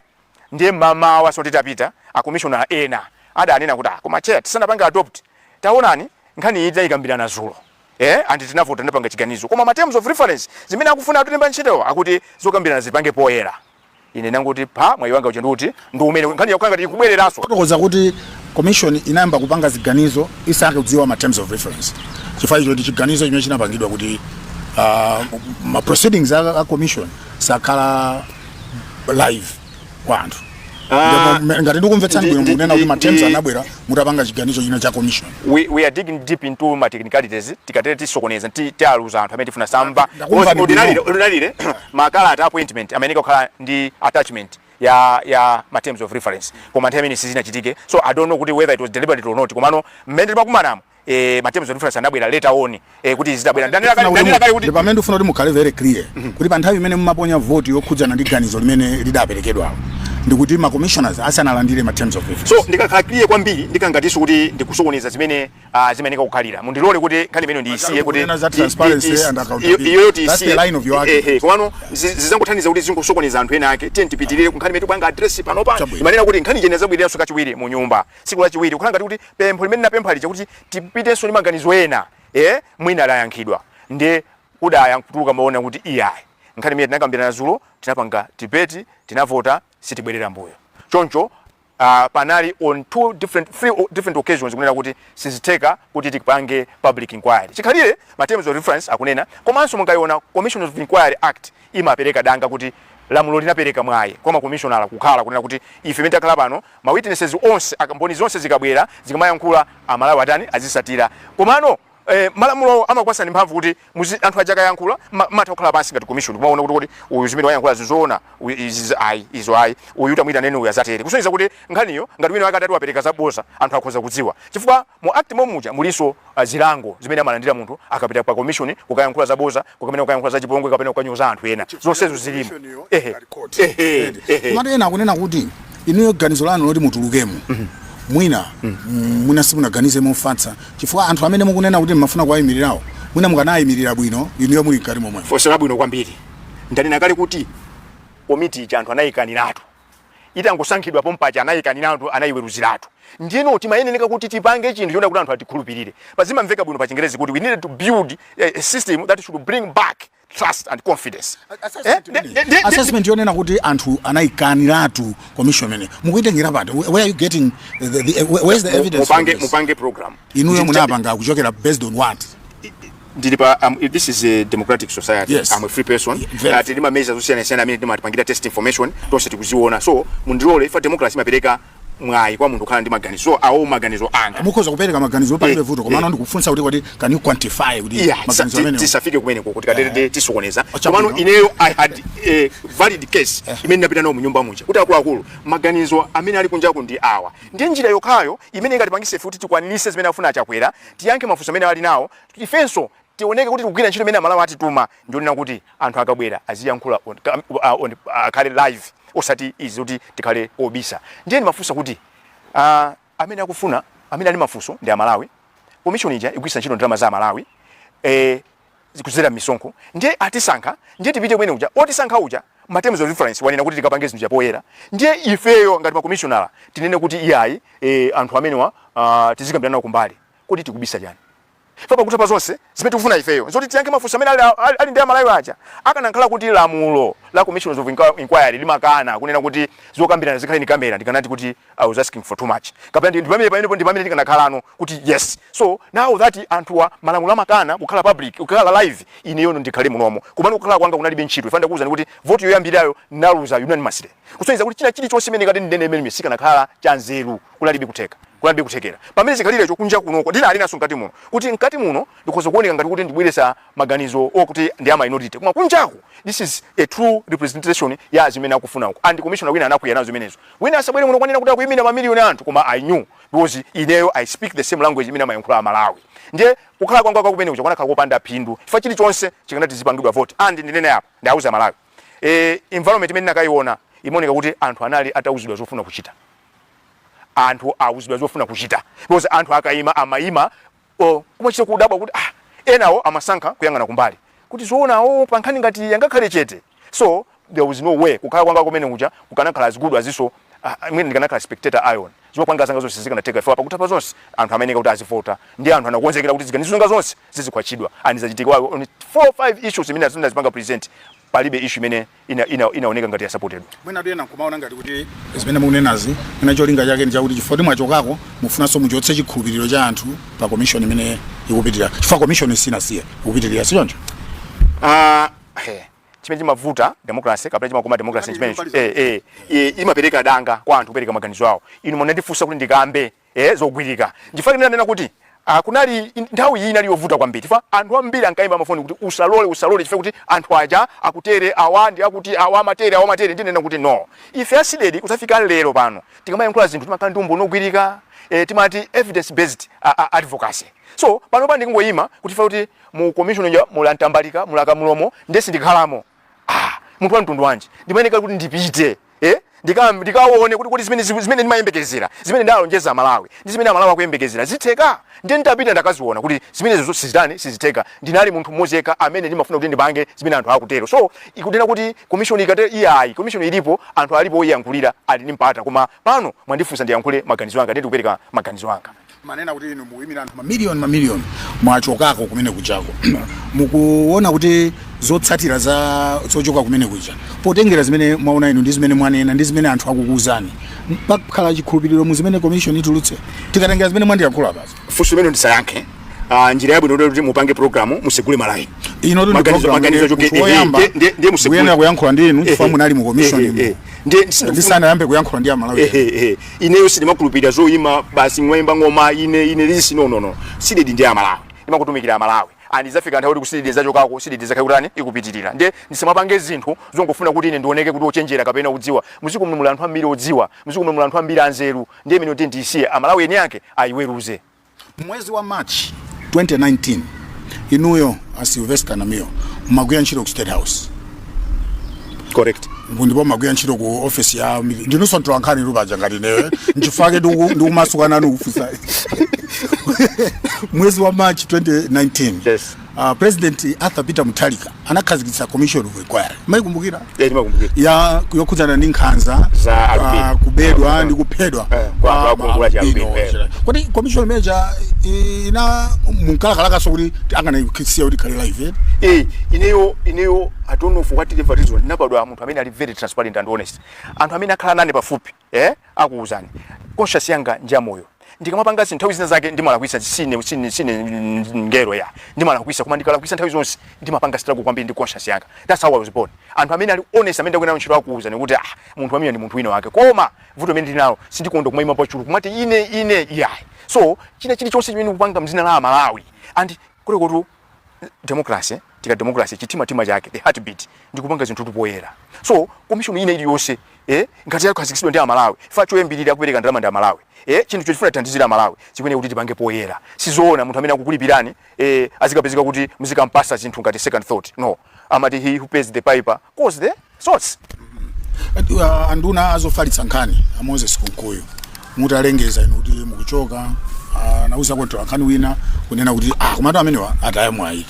Ndiye mmamawanso titapita, a commissioner ena adanena kuti ah koma chair tisanapange adopt taonani nkhani iyi tinayikambirana zulo eeh and tinavota tinapanga chiganizo koma ma terms of reference zimene akufuna atilemba ntchitowa akuti zokambirana zipangidwe poyera. Ine ndangoti pha, mwayi wanga uja ndi uti? Ndi umenewu. Nkhani ikukhala ngati ikubwereranso. Kutanthauza kuti commission inayamba kupanga ziganizo isakudziwa ma terms of reference chifukwa icho ndi chiganizo chimene chinapangidwa kuti ah, ma proceedings a a commission sakhala live kwa anthu Ah, Ndipo, ngati ndikumvetsani ndi- bwino ndi- mukunena kuti ndi- ma terms ndi- anabwera mutapanga chiganizo china cha commission we, we are digging deep into ma technicalities tikatero tisokoneza ti- tialuza anthu amene tifuna amve Ndakumva Because ni ordinarily- bwino. ordinarily, makalata a appointment amayenera kukhala ndi attachment ya ya ma terms of reference koma nthawi imeneyo sizinachitike so i don't know kuti whether it was deliberate or not komano mmene timakumanamo eh ma terms of reference anabwera later on eh kuti zidabwera ndanena kale ndanena kale kuti pamene ndifuna kuti mukhale very clear mhm. kuti pa nthawi imene mumaponya vote yokhudzana ndi ganizo limene lidaperekedwa ndikuti ma commissioners asanalandire ma terms of reference so ndikakhala clear kwambiri ndikhala ngatinso kuti ndikusokoneza zimene ah, zimayeneka kukhalira mundilole kuti nkhani imeneyo ndiyisiye kuti iyo yoti isiye eh, eh, komano zizangothandiza kuti zingosokoneza anthu ena ake tiye tipitirire kunkhani imene tikupanga address panopa imanena kuti nkhani ija inadzabwereranso kachiwiri mu nyumba tsiku lachiwiri kukhala ngati kuti pempho limene ndinapempha lija kuti tipitenso ndi maganizo ena e mwina layankhidwa ndiye kudayankhulidwa kumaona kuti iyayi nkhani imene tinakambirana zulo tinapanga debate tinavota sitibwerera mbuyo choncho uh, panali on two different three different occasions kunena kuti sizitheka kuti tipange public inquiry chikhalire ma terms of reference akunena komanso mungayiona commission of inquiry act imapereka danga kuti lamulo linapereka mwayi kwa makomishonala kukhala kunena kuti ife mmene takhala pano ma witnesses onse a mboni zonse zikamabwera zikamayankhula a Malawi atani azitsatira komano eh, malamulowo amakupatsani mphamvu kuti muzi anthu aja akayankhula ma- mumatha kukhala pansi ngati commission kumaona kuti kuti uyu zimene wayankhula zizoona uyu izi zi- ayi izo ayi uyu tamuitaneni uyu adzatere kusonyeza kuti nkhaniyo ngati wina wake atati wapereka zaboza anthu akhoza kudziwa chifukwa mu act momuja mulinso zilango zimene amalandira munthu akapita kwa commission kukayankhula zaboza kapena kukayankhula za chipongwe kapena kukanyoza anthu ena zonsezo zilimo ehe ehe ehe komatu ena akunena kuti inuyo ganizo lanu loti mutulukemo mwina mm, mwina simunaganize mofatsa chifukwa anthu amene mukunena kuti mmafuna kuwayimirirawo mwina mukanayimirira bwino inuyo muli mkati momwemo funso labwino kwambiri ndanena kale kuti komiti ija anthu anayikaniratu itangosankhidwa pompaja anayikaniratu anayiweruziratu ndiyeno timayeneka kuti tipange chinthu chonena kuti anthu atikhulupirire paja zimamveka bwino pa chingerezi kuti we needed to build a, a system that should bring back trust and confidence Eh, de- de- de- de- assessment yonena kuti anthu anayikaniratu commission imeneyi mukuyitengera pati where are you getting the, the, where is the evidence for mupange this? mupange program inuyo Ndi- munapanga kuchokera based on what ndili pa um, this is a democratic society yes. I'm a free person yeah, uh, tili ndi ma measures osiyana siyana amene timapangira test information tonse tikuziona so mundilole paja democracy imapereka mwayi kwa munthu kukhala ndi maganizo awo maganizo anga mukhoza kupereka maganizo palibe eh, vuto komano eh. ndikufunsa kuti kuti can you quantify kuti maganizo amene tisafike kumeneko tikatero eh. tisokoneza komano ineyo i had a valid case imene ndapita nayo munyumba muja kuti akuluakulu maganizo amene ali kunjaku ndi awa ndiye njira yokhayo imene ingatipangitse kuti tikwanitse zimene afuna a Chakwera tiyankhe mafunso amene ali nawo, ifenso tioneke kuti tikugwira ntchito imene Amalawi atituma ndiyonena kuti anthu akabwera aziyankhula on, uh, on, uh, akhale live osati izi zoti tikhale obisa. Ndiye ndimafunsa kuti uh, amene akufuna amene ali mafunso ndi Amalawi, komishoni ija igwiritsa ntchito ndalama za Amalawi eh, kudzera misonkho ndiye atisankha ndiye tipite kumene uja otisankha uja ma terms of reference wanena kuti tikapange zinthu chapoyera ndiye ifeyo ngati makomishonala tinene kuti iyayi e, anthu amenewa uh, tizikambirana nawo kumbali kodi tikubisa chani fa pakutha pa zonse zimene tikufuna ifeyo nzoti tiyankhe mafunso amene ali, ali, ali ndi amalawi aja akanakhala kuti lamulo la commission of inquiry limakana kunena kuti zokambirana zikhale in camera ndikanati kuti I was asking for too much kapena ndi pamene pamene ndi pamene tikanakhalano kuti yes so now that anthuwa malamulo amakana kukhala public kukhala live ineyono ndikhale munomo kumene kukhala kwanga kunalibe ntchito fa ndakuuzani kuti vote yoyambirayo naluza unanimously kusonyeza kuti china chili chonse imene nkati ndinene imene sichikanakhala cha nzeru kunalibe kutheka kunalibe kuthekera pamene chikhalirecho kunja kunoko ndinanenanso mkati muno kuti mkati muno ndikhoza kuoneka ngati kuti ndibweretsa maganizo okuti ndi a minority koma kunjaku this is a true representation ya zimene akufuna uko and commissioner wina anakwiya nazo zimenezo Wina asabwere muno kwanena kuti akuyimira ma million a anthu koma I knew because ineyo I speak the same language imene amayankhula a Malawi ndiye kukhala kwanga kwa kumene kuja kukanakhala kopanda phindu chifukwa chilichonse chikanati zipangidwa vote and ndinene apa ndiauze a Malawi e, environment imene ndinakayiona imaoneka kuti anthu anali atauzidwa zofuna kuchita anthu auzidwa zofuna kuchita because anthu akayima amayima Or kumachita kudabwa kuti ah enawo amasankha kuyang'ana kumbali kuti zoona awowo pa nkhani ngati iyi angakhale chete? So there was no way kukhala kwanga kumene kuja kukanakhala as good as so ah, mwina ndikanakhala spectator ion zopanga zanga zonse zikanatheka chifukwa pakutha pa zonse anthu amayeneka kuti azivota ndi anthu anakonzekera kuti ziganizo zanga zonse zizikhwatchidwa and zachitika on 4 5 issues imene zimene zipanga present palibe issue imene ina ina inaoneka ngati yasapotedwa mwina anthu ena nkumaona ngati kuti zimene mukunenazi mwina cholinga chake ndi chakuti chifukwa kuti mwachokako mufunanso muchotse chikhulupiriro cha anthu pa komishoni imene ikupitirira chifukwa komishoni sinasiye ikupitirira si choncho Ah, eh, chimene chimavuta democracy kapena chimakoma democracy Kapena chimenecho chimapaliza. eh, eh, eh, imapereka danga kwa anthu kupereka maganizo awo inu munandifunsa kuti ndikambe eh, zogwirika. Nchifukwa chake ndinanena kuti Uh, kunali nthawi iyi inali yovuta kwambiri chifukwa anthu ambiri ankaimba mafoni kuti usalole usalole chifukwa kuti anthu aja akutere awa ndi akuti awa amatere awa amatere ndinena kuti no ife a CDEDI kuzafika lero pano tikamayankhula zinthu timakhala ndi umboni wogwirika eh, timati evidence based uh, uh, advocacy so pano pano ndikungoyima kuti fa kuti mu commission ya muli a Ntambalika muli a Kamulomo nde sindikhalamo ah munthu wa mtundu wanji ndimayeneka kuti ndipite eh ndikaone kuti kuti zimene zimene ndimayembekezera zimene ndalonjeza amalawi ndi zimene amalawi akuyembekezera zitheka ndiye nditapita ndakaziona kuti zimenezizo sizitani sizitheka ndinali munthu mmodzi yekha amene ndimafuna kuti ndipange zimene anthu akutero so sikunena kuti commission ikatero iyayi commission ilipo anthu alipo oyiyankhulira ali ndi mpata koma pano mwandifunsa ndiyankhule maganizo anga ndikupereka maganizo anga Mwanena kuti inu mukuyimira anthu mamiliyoni mamiliyoni mwachokako kumene kujako mukuona kuti zotsatira za zochoka kumene kuja potengera zimene mwaona inu ndi zimene mwanena ndi zimene anthu akukuuzani pakhala chikhulupiriro mu zimene commission itulutse tikatengera zimene mwandiyankhula basi funso limene ndisayankhe uh, njira yabwino kuti mupange programu musegule malayini ndi Maganizo- program maganizo yomwe choke- munthu eh, eh, woyamba ndiye- ndiye- ndiye musegule. kuyenera kuyankhula ndi inu chifukwa munali mu commission Eh, eh, imo eh. Ndiye- ndisanayambe kuyankhula ndi amalawi Eh, eh, eh. ineyo sindimakhulupirira zoyima basi mwayimba ng'oma ine ine lisi no no no CDEDI ndi amalawi ndimangotumikira amalawi and idzafika nthawi kuti ku CDEDI ndizachokako CDEDI izakhala ikutani ikupitirira nde ndisamapange zinthu zongofuna kuti ine ndioneke kuti ochenjera kapena kudziwa m'dziko muno muli anthu ambiri odziwa m'dziko muno muli anthu ambiri anzeru ndiye imene kuti ndisiye amalawi eni ake ayiweruze M'mwezi wa March 2019, inuyo a Sylvester Namiwa mumagwira ntchito ku State House. Correct. Ndipo mumagwira ntchito ku office ya ndinunso mtolankhani inu paja ngati ineyo. N'chifukwa chake ndiku- ndikumasuka nanu kufunsa. Mwezi wa March 2019. Yes. Uh, President Arthur Peter Mutharika anakhazikitsa commission of inquiry mumaikumbukira yeah, ndimakumbukira ya yokhudzana ndi nkhanza Za albino. ah, kubedwa Yeah. ndi kuphedwa Eh, kwa- kwa kwa ma gulu la chi albino albino, eh. onse. kodi commission imene ija inu munkalakalakaso kuti akanaisiya kuti ikhale live eh ineyo ineyo i don't know for what reason reason ndinabadwa munthu amene ali very transparent and honest anthu amene akhala nane pafupi eh akuuzani conscience yanga ndi yamoyo ndikamapanga zinthu nthawi zina zake ndimalakwisa sine sine sine mngelo yeah ndimalakwisa koma ndikalakwisa nthawi zonse ndimapanga struggle kwambiri ndi conscience yanga that's how i was born anthu amene ali honest amene ndagwira nawo ntchito akuuzani kuti ah munthu amene ndi munthu wina wake koma vuto limene ndinalo sindikonda kumaima pa chulu kumati ine ine yeah so china chili chonse chimene ukupanga m'dzina la amalawi and kule kutu democracy tikati democracy chitima tima chake the heartbeat ndi kupanga zinthu poyera so commission ina iliyonse eh ngati yakhazikitsidwa ndi amalawi chifukwa choyambirira akupereka ndalama ndi amalawi eh chinthu chofuna kuthandizira amalawi chiyenera kuti tipange poyera sizoona munthu amene akukulipirani eh azikapezeka kuti muzikampasa zinthu ngati second thought no amati he who pays the piper calls the Shots, uh, anduna azofalitsa nkhani a Moses Kunkuyu mutalengeza inu kuti mukuchoka uh, anauza mtolankhani wina kunena kuti ah, komatu amenewa ataya mwayi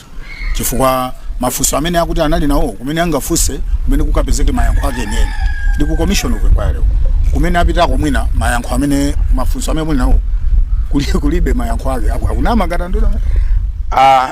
chifukwa mafunso amene akuti anali nawo kumene angafunse kumene kukapezeke mayankho ake enieni ndi ku commission of inquiry uko. kumene apitako mwina mayankho amene mafunso amene muli nawo kuli- kulibe mayankho ake Aku- akunama ngati anduna Ah,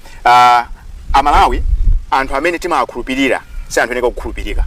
Ah, amalawi anthu amene timawakhulupirira si anthu oyeneka kuwakhulupirira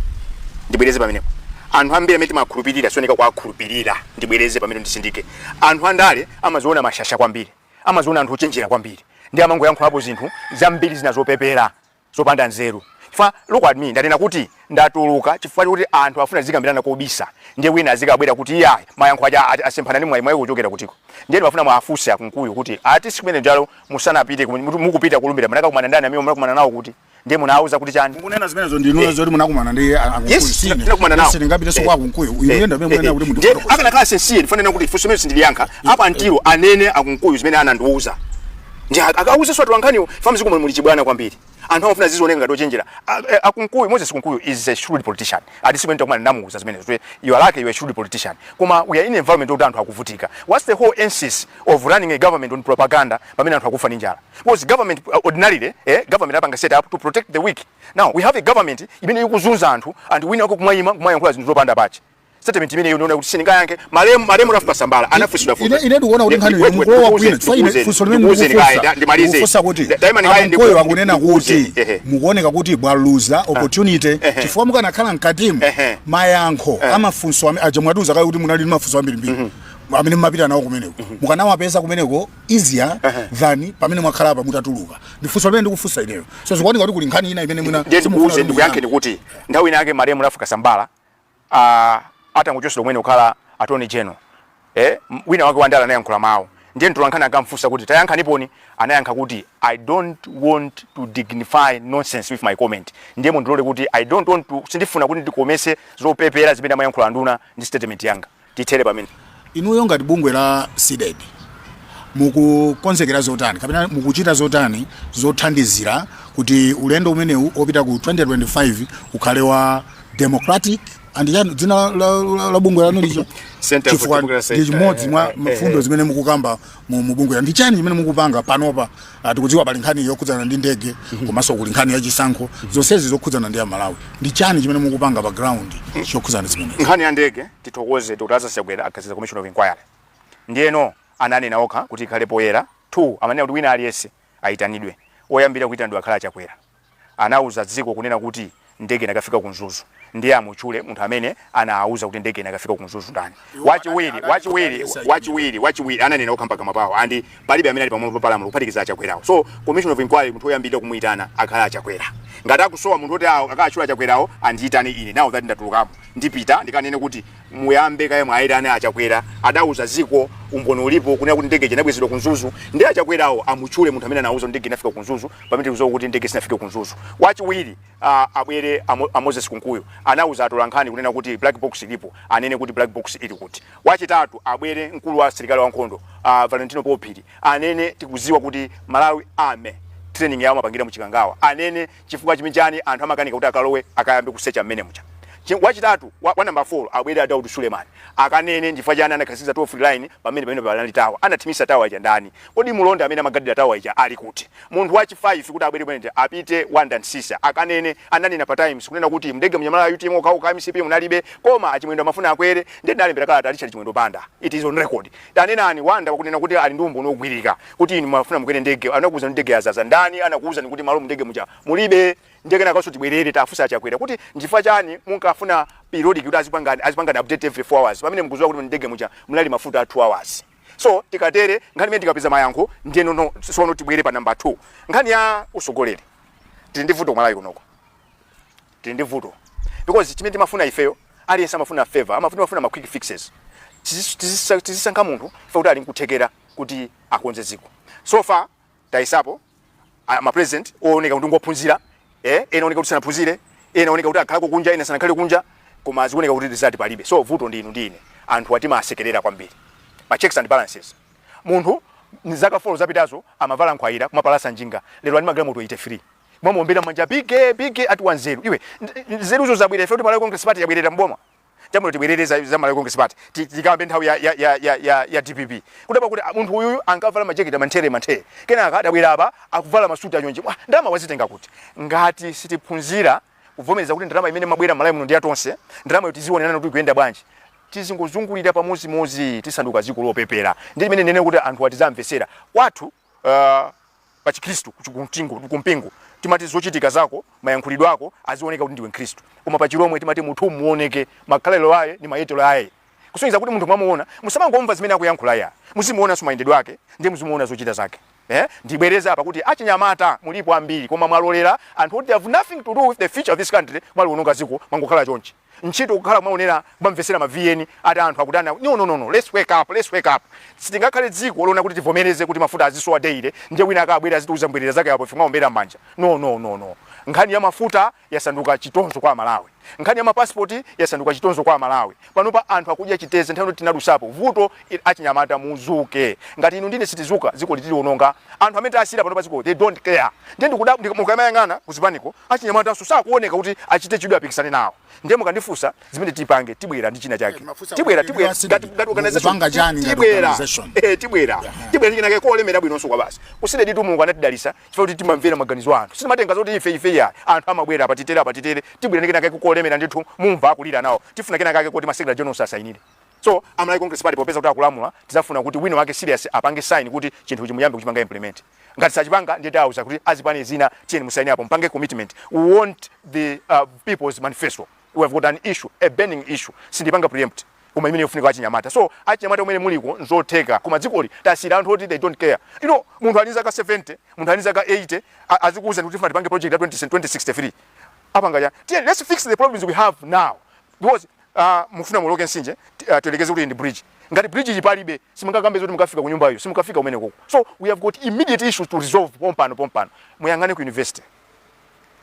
ndibwereze pamenepo anthu ambiri amene timawakhulupirira si oyeneka kuwakhulupirira ndibwereze pamenepo nditsindike anthu andale amaziona mashasha kwambiri amaziona anthu ochenjera kwambiri ndiye amangoyankhulapo zinthu zambiri zina zopepera zopanda nzeru chifukwa look at me ndanena kuti ndatuluka chifukwa choti anthu afuna zikambirana kobisa ndiye wina azikabwera kuti iyayi mayankho aja asemphana ndi mwayi mwayi kuchokera kutiko ndiye ndimafuna muwafunse akunkuyu kuti ati tsiku limene lijalo musanapite mukupita kulumbira munakakumana ndani amene munakumana nawo kuti ndiye munawuza kuti chani mukunena zimenezo ndinu eh. zoti munakumana ndi akunkuyu sine ndinakumana nawo sindingapitenso eh. kwa akunkuyu uyu yenda eh. mwe mwana kuti munthu akanakhala sincere ndifuna nena kuti funso limeneli sindiliyankha apa until anene akunkuyu zimene anandiwuza ndiye akawuzanso atolankhaniwo chifukwa mudzikomu muli chibwana kwambiri anthu amafuna azioneka ngati ochenjera eh, akunkuyu moses kunkuyu is a shrewd politician and tsiku lina titakumana ndamuuza zimenezo kuti you are like you are a shrewd politician koma we are in an environment yokuti anthu akuvutika what's the whole emphasis of running a government on propaganda pamene anthu akufa ndi njala because government uh, ordinarily eh, government apanga set up to protect the weak now we have a government imene ikuzunza anthu and wina wake kumayima kumayankhula zinthu zopanda pache statement imene unaona kuti sindingayankhe malemu malemu Ralph Kasambala anafunsidwa funso ine ndikuona kuti nkhani mukulowa kwina chifukwa ine funso limene ndikufunsa ndikufunsa kuti akunkuyu akunena kuti mukuoneka kuti mwaluza ah. opportunity chifukwa mukanakhala mkatimu mayankho eh. amafunso aja mwatiuza kale kuti munali ndi mafunso ambirimbiri mhm. amene mumapita nawo kumeneko mhm. mukanawapeza kumeneko easier than pamene mwakhala apa mutatuluka ndifunso limene ndikufunsa ineyo so zikuoneka kuti kuli nkhani ina imene mwina ndikuuze ndikuyankheni kuti nthawi ina yake malemu Ralph Kasambala a atangochotsedwa kumene kukhala attorney general eh, wina wake wandale anayankhula mawu ndiye mtolankhani ankamfunsa kuti tayankhaniponi anayankha kuti i don't want to dignify nonsense with my comment ndiye mundilole kuti i don't want to sindifuna kuti ndikomese zopepera zimene amayankhula anduna ndi statement yanga tithere pamene. Inuyo ngati bungwe la Cdedi mukukonzekera zotani kapena mukuchita zotani zothandizira kuti ulendo umenewu opita ku 2025 ukhale wa democratic and chani dzina la, la, la, la bungwe lanu licho Center for chifukwa Democracy. ndi chimodzi mwa Eh, eh, eh, mfundo eh. zimene mukukamba mu mu bungwe ndi chani chimene mukupanga panopa Ah, tikudziwa pali nkhani yokhudzana ndi ndege komanso kuli nkhani ya chisankho zonsezi zokhudzana ndi amalawi ndi chani chimene mukupanga pa ground chokhudzana zimenezi nkhani ya ndege tithokoze dr lazarus chakwera akhazikitsa commission of inquiry ndiyeno ananena okha kuti ikhale poyera two amanena kuti wina aliyense ayitanidwe oyambira kuyitanidwa akhale achakwera anauza dziko kunena kuti ndege inakafika ku mzuzu ndiye amutchule munthu amene anaauza kuti ndege inakafika ku mzuzu ndani wachiwiri wachiwiri ananena okha mpakamwa pawo and palibe amene ali pamwamba palamulo kuphatikiza achakwerawo so commission of inquiry munthu oyambirira kumuyitana akhale achakwera ngati akusowa munthu oti akatchule achakwerawo andiyitane ine now that ndatulukapo ndipita ndikanene kuti muyambe kaye mwaitana achakwera adauza dziko umboni ulipo kunena kuti ndege inabwezedwa ku mzuzu ndiye achakwerawo amutchule munthu amene anauza ndege inafika ku mzuzu pamene tikudziwa kuti ndege sinafike ku mzuzu wachiwiri uh, abwere amo, a moses kunkuyu anauza atolankhani kunena kuti black box ilipo anene kuti black box ili kuti wachitatu abwere mkulu wa asilikali wankhondo uh, valentino paul phiri anene tikudziwa kuti malawi army training yawo amapangira muchikangawa anene chifukwa chmchani anthu amakanika kuti akalowe akayambe kusecha mmene muja Chi- wachitatu wa, wa number 4 abwere a daud suleman akanene ndifukwa chani anakhazikitsa toll free line pamene pamene panali tawa anathimisa tawa ija ndani kodi mulonda amene amagadira tawa ija ali kuti munthu wachi 5 kuti abwere pamene apite wonder msiska akanene ananena pa times kunena kuti mndege muja munali a utm okhaokha mcp munalibe koma a chimwendo amafuna akwere ndiye ndalembera kalata richard chimwendo banda it is on record tanenani wonder akunena kuti ali ndi umboni wogwirika kuti inu mafuna mukwere ndege anakuwuzani ndege yazaza ndani anakuwuzani kuti malo mndege muja mulibe ndiye kenakanso tibwerere tafunsa a chakwera kuti nchifukwa chani munkafuna periodic kuti azipangani azipangani update every 4 hours pamene mukuziwa kuti mndege muja munali mafuta a 2 hours so tikatere nkhani imene tikapeza mayankho ndiyeno sono tibwere pa namba 2 nkhani ya usogoleri tili ndi vuto kumalawi kunoko tili ndi vuto because chimene timafuna ifeyo aliyense amafuna favor amafuna amafuna ma quick fixes Tizisu- tizisa- tizisankha munthu ife kuti ali nkuthekera kuti akonze dziko so far tayesapo a- ma president ooneka kuti ngophunzira eh ena ooneka kuti sanaphunzire ena ooneka kuti akhalako kunja ena sanakhale kunja koma zikuoneka kuti result palibe so vuto ndi inu ndi ine anthuwa timawasekerera kwambiri ma checks and balances munthu mzaka 4 zapitazo amavala nkhwayira kumapalasa njinga lero ali ndi magalimoto 83 mwamuombera manja biggie biggie ati wanzeru iwe nzeruzo zabwera ife kuti malawi congress party yabwerera mboma chabwino tibwerere za, za malawi congress party tikambe nthawi ya, ya, ya, ya, ya, ya dpp kudabwa kuti ah, munthu uyuyu ankavala majeketi amanthere manthere kenaka adabwera apa akuvala masuti anyonje ndalama wazitenga kuti ngati sitiphunzira kuvomereza kuti ndalama imene imabwera malawi muno ndi yatonse ndalamayo tizionenana kuti ikuyenda bwanji tizingozungulira pamodzimodzi tisanduka dziko lopepera ndi imene nene kuti anthu atizamvesera kwathu uh, pa chikhristu kumpingo kumpingo timati zochitika zako mayankhulidwe ako azioneka kuti ndiwe mkhristu koma pa chilomwe timati munthu muoneke makhalelo aye ni mayetelo aye kusonyeza kuti munthu mwamuona musamangomva zimene akuyankhula ya muzimuonanso mayendedwe ake ndiye muzimuona zochita zake eh ndibwereza apa kuti achinyamata mulipo ambiri koma mwalolera anthu oti have nothing to do with the future of this country mwaliononga ziko mwangokhala chonchi ntchito kukhala kumaonera kumamvetsera ma vn ati anthu akutani aku- no, no, no, no. Let's wake up, let's wake up. sitingakhale dziko lona kuti tivomereze kuti mafuta azisowa daily ndiye wina akabwera azitiuza mbwerera zake apo ife mwaombera m'manja no, no, no, no. nkhani ya mafuta yasanduka chitonzo kwa amalawi nkhani ya mapasipoti yasanduka chitonzo kwa amalawi panopa anthu akudya chitedze nthawi yoti tinadusapo vuto inu achinyamata muzuke ngati inu ndi ine sitizuka zikoli tiliononga anthu amene tasiira panopa zikoli they don't care ndiye ndikuda mukamayang'ana kuzipaniko achinyamatanso sakuoneka kuti achite chidwi apikisane nawo ndiye mukandifunsa zimene tipange tibwera ndi china chake tibwera tibwera ngati ngati organization tibwera eh tibwera tibwera china chake kolemera bwinonso kwabasi kusine ditu mulungu anatidalisa chifukwa kuti timamvera maganizo anthu sitimatenga zoti ife ife ya anthu amabwera apa titere apa titere tibwera ndi china chake kolemera ndithu mumva akulira nawo tifuna china chake kuti masekela jones asainire So a Malawi Congress Party popeza kuti akulamula tidzafuna kuti wina wake serious apange sign kuti chinthuchi muyambe kuchipanga implement. Ngati sachipanga ndiye tawauza kuti azipani zina tiyeni musaine apo mupange commitment. We want the uh, people's manifesto. We have got an issue, a burning issue. Sindipanga preempt koma imene yofunika achinyamata. So achinyamata kumene muliko nzotheka koma dzikoli tasiyira anthu oti they don't care. You know munthu ali zaka 70, munthu ali zaka 80 a- azikuuza kuti tifuna tipange project ya 20 2063. Apanga chani? Tiyeni let's fix the problems we have now because Ah, mufuna muoloke mtsinje ti- ah, tiyerekeze kuti ndi bridge ngati bridge ija palibe simungakambe zoti mukafika ku nyumbayo simukafika kumene konko so we have got immediate issues to resolve pompano pompano muyang'ane ku university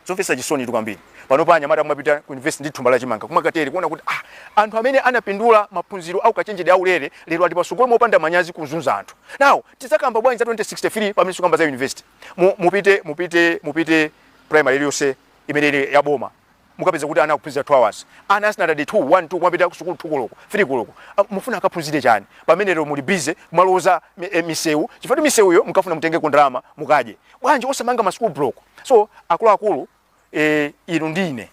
zomvetsa chisoni tu kwambiri pano pa anyamata kumapita ku university ndi thumba la chimanga kumakatero kuona kuti ah, anthu amene anapindula maphunziro aukachenjede aulere lero ali patsogolo mopanda manyazi kuzunza anthu now tidzakamba bwanji za 2063 pamene tikamba za university Mu- mupite mupite mupite primary iliyonse imene ili ya boma mukapeza kuti ana akuphunzira 2 hours ana a standard 2 1 2 kumapita kusukulu 2 koloko 3 koloko Ah, mufuna akaphunzire chani pamene lero muli busy kumalonjeza mi- eh, misewu chifukwa kuti misewuyo mukafuna mutengeko ndalama mukadye bwanji osamanga ma school block so akuluakulu eh, inu ndi ine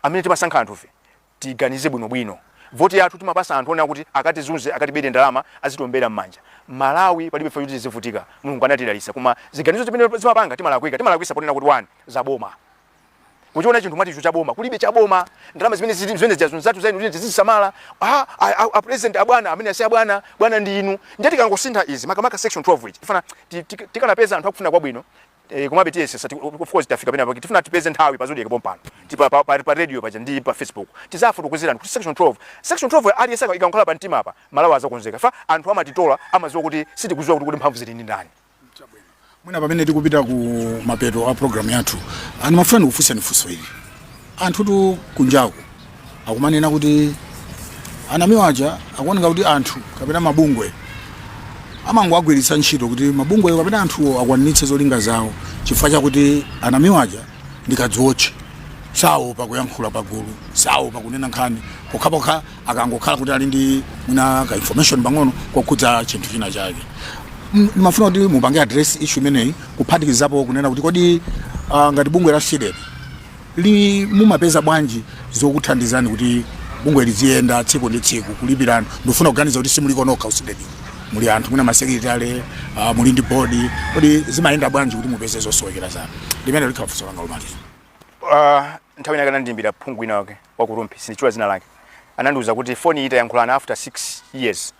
amene timasankha anthufe tiganize bwinobwino voti yathu timapasa anthu onena kuti akatizunze akatibere ndalama azitiombera m'manja malawi palibe chifukwa choti tizivutika mulungu anatidalitsa koma ziganizo zimene timapanga timalakwika timalakwisa ponena kuti ndi zaboma mukachiona chinthu mumati icho cha boma kulibe cha boma ndalama zimene zili zimene zija zonse zathu zainu kuti tizizisamala a, a, a, a president abwana amene si abwana bwana ndi inu ndiye tikangosintha izi makamaka section 12 ichi tifana ti- ti- tikanapeza anthu akufuna kwabwino eh, komabe tiyesetsa ti- of course tafika pena pake tifuna tipeze nthawi pa zodiac pompano ti pa, pa, pa, pa radio paja ndi pa facebook tidzafotokozereni kuti section 12 section 12 aliyense ikamukhala pa mtima apa malawi adzakonzeka chifukwa anthu amatitola amadziwa kuti sitikudziwa kuti kuti mphamvu zili ndi ndani mwina pamene tikupita ku mapeto a program yathu ndimafuna ndikufunseni funso ili anthu tu kunjaku akumanena kuti a Namiwa aja akuoneka kuti anthu kapena mabungwe amangowagwiritsa ntchito kuti mabungweyo kapena anthuwo akwaniritse zolinga zawo chifukwa chakuti a Namiwa aja ndi kadziwotche saopa kuyankhula pagulu saopa kunena nkhani pokhapokha akangokhala kuti ali ndi mwina ka information pang'ono kokhudza chinthu china chake M- ndimafuna kuti mupange address issue imeneyi kuphatikizapo kunena kuti kodi ah, ngati bungwe la CDEDI li mumapeza bwanji zokuthandizani kuti bungwe liziyenda tsiku ndi tsiku kulipira anthu ndifuna kuganiza kuti simuliko nokha ku CDEDI muli anthu mwina masekretary uh, muli ndi bodi kodi zimayenda bwanji kuti mupeze zosowekera zanu limeneli likhala funso langa lomaliza uh, nthawi ina anandiimbira phungu wina wake wa ku Rumphi sindichula dzina lake anandiuza kuti foni ita yankhulana after 6 years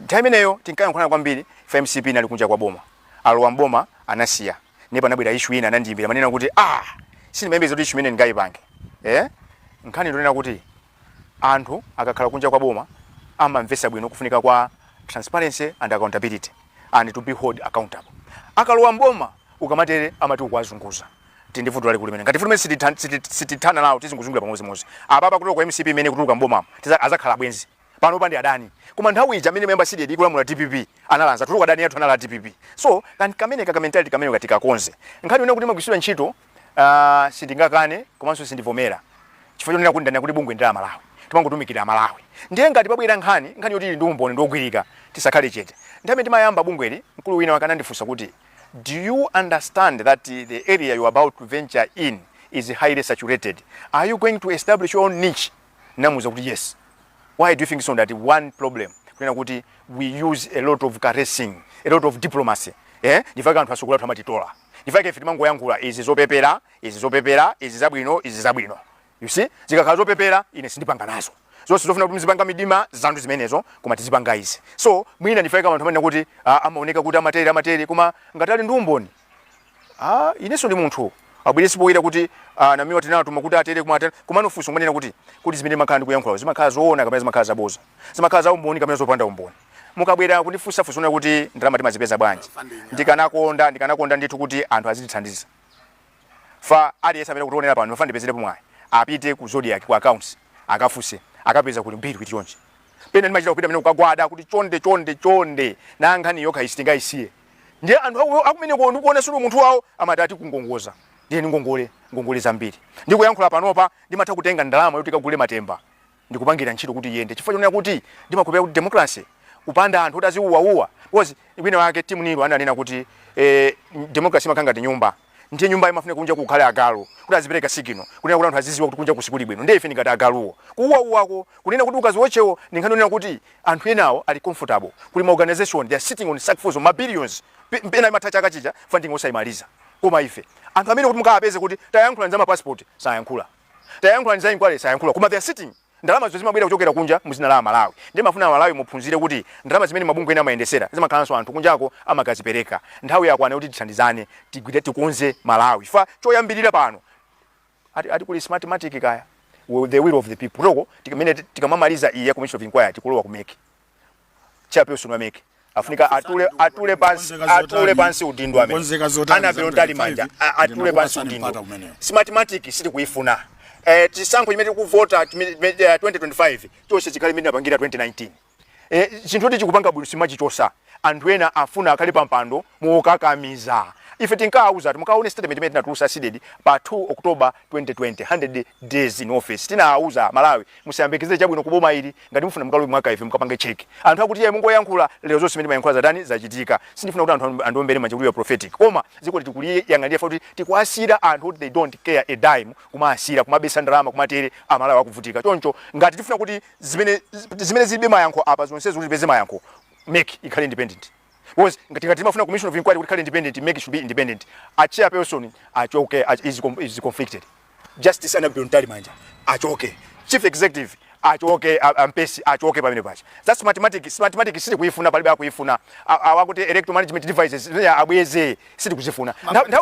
nthawi imeneyo tinkayankhulana kwambiri fa mcp inali kunja kwa boma alowa mboma anasiya ndipo anabwera ishu ina anandiyimbira kumanena kuti ah sindimayembekeza kuti ishu imene ndingayipange eh? nkhani njonena kuti anthu akakhala kunja kwa boma amamvesa bwino kufunika kwa transparency and accountability and to be held accountable akalowa mboma ukamatere amati ukuwazunguza tili ndi vuto lalikulu limene ngati vuto limene sititha- siti- sitithana nawo tizingozungulira pamodzimodzi apapa kutuluka kwa mcp imene kutuluka mbomamo tiza- azakhala abwenzi panopa ndi adani koma nthawi ija amene momwe cdedi ikulamula dpp anali anzathu koma adani athu anali a dpp so kan- kameneka kamentality kameneka tikakonze nkhani yonena kuti timagwiritsidwa ntchito ah, sindingakane komanso sindivomera chifukwa chonena kuti ndinanena kuti bungwe ndi la malawi timangotumikira malawi ndiye ngati pabwera nkhani nkhani yoti ili ndi umboni wogwirika tisakhale chete nthawi timayamba bungweli mkulu wina wake anandifunsa kuti Do you understand that the area you are about to venture in is highly saturated? Are you going to establish your own niche? Ndinamuuza kuti yes. Why do you think so? Ndinati one problem? Kunena kuti we use a lot of caressing, a lot of diplomacy. Eh? Ndi fa chake anthu atsogoleri athu amatitola. Ndi fa chake ife timangoyankhula izi zopepera, izi zopepera, izi zabwino, izi zabwino. you see zikakhala zopepera ine sindipanga nazo zonse zofuna kuti mzipanga mumdima zinthu zimenezo koma tizipanga izi so mwina ndi fa chake anthu amanena kuti ah, amaoneka kuti amatere amatere koma ngati ali ndi umboni ah, inenso ndi munthu abweretse poyera kuti ah, namiwa tinatuma kuti atere komanso atere koma funso ndi lonena kuti kuti zimene ndimakhala ndi kuyankhula zimakhala zoona kapena zimakhala zaboza zimakhala za umboni kapena zopanda umboni mukabwera kundifunsa funso kuti ndalama timazipeza bwanji ndikanakonda ndikanakonda ndithu kuti anthu azitithandiza fa aliyense amene akutionera pano mwina ndipezerepo mwayi apite ku zodiac ku accounts akafunse akapeza kuli ma bill ati chonchi pena ndimachita kupita ine kukagwada kuti chonde chonde chonde na nkhani yokhayi sitingayisiye ndiye anthu aku- akumeneko ndikuona sulu munthu wawo amati ati kungongoza ndiye ndi ngongole ngongole zambiri ndikuyankhula panopa ndimatha kutenga ndalama yoti kagule matemba n'kupangira ntchito kuti iyende chifukwa chonena kuti ndimakhulupirira kuti democracy kupanda anthu kuti aziwuwawuwa because wina wake timothy neale ananena kuti eh, democracy imakhala ngati nyumba ndiye nyumba imafunika kunja kukhale agalu kuti azipereka sigino kunena kuti anthu aziziwa kuti kunja kuno sikuli bwino ndiye ife ndi ngati agaluwo kuwuwawuwako kunena kuti mukazionerawo ndi nkhani yonena kuti anthu enawo ali comfortable kuli ma organization they are sitting on sackfuls of ma billions Pe- pena imatha chaka chija funding osayimaliza koma ife anthu amene kuti mukawapeze kuti tayankhulani za mapasipoti sayankhula Tayankhulani za inquiry sayankhula koma they're sitting. Ndalamazo zimabwera kuchokera kunja mu dzina la amalawi. Ndimafuna amalawi muphunzire kuti ndalama zimene mabungwe ena amayendesera zimakhalanso anthu kunjako amakazipereka. Nthawi yakwana kuti tithandizane tigwire tikonze malawi chifukwa choyambirira pano ati ati kuli smartmatic kaya the will of the people. Kuteroko tikamene tikamamaliza iyi ya commission of inquiry tikulowa ku mec. chairperson wa mec afunika atule atule pansi atule pansi udindo amene Kukonzeka zotani annabel za mtalimanja 25, a- atule ndinokupasa pansi udindo nipata kumeneyo. smartmatic sitikuifuna eh chisankho chimene tikuvota chimene- chimene, eh, 2025 chonse chikhale mmene apangira 2019 eh chinthu kuti chikupanga bwino simachichosa anthu ena afuna akhale pampando mokakamiza ife tinkawauza ati mukaone statement imene tinatulusa cdedi pa 2 october 2020 100 days in office tinawauza amalawi musayembekeze chabwino kuboma ili Ngati mufuna mukalowe mu archive mukapange check. Anthu akuti iyayi mungoyankhula, lero zonse zimene timayankhula zatani? Zachitika. Sindifuna kuti anthu andiombere manja kuti you are prophetic. Koma dzikoli tikuliyang'anira chifukwa choti tikuwasiyira anthu oti they don't care a dime, kumawasiyira, kumabisa ndalama, kumatere, Amalawi akuvutika. Choncho ngati tifuna kuti zimene zilibe mayankho apa zonsezo kuti tipeze mayankho, mec ikhale independent. Coz ngati ngati timafuna commission of inquiry kuti ikhale independent mec should be independent a chairperson achoke he is com- is conflicted justice annabel mtalimanja achoke chief executive achoke a- a mpesi achoke pamene paja smartmatic sitikuifuna palibe akuifuna A- awa kuti electoral management devices yeah, abweze sitikuzifuna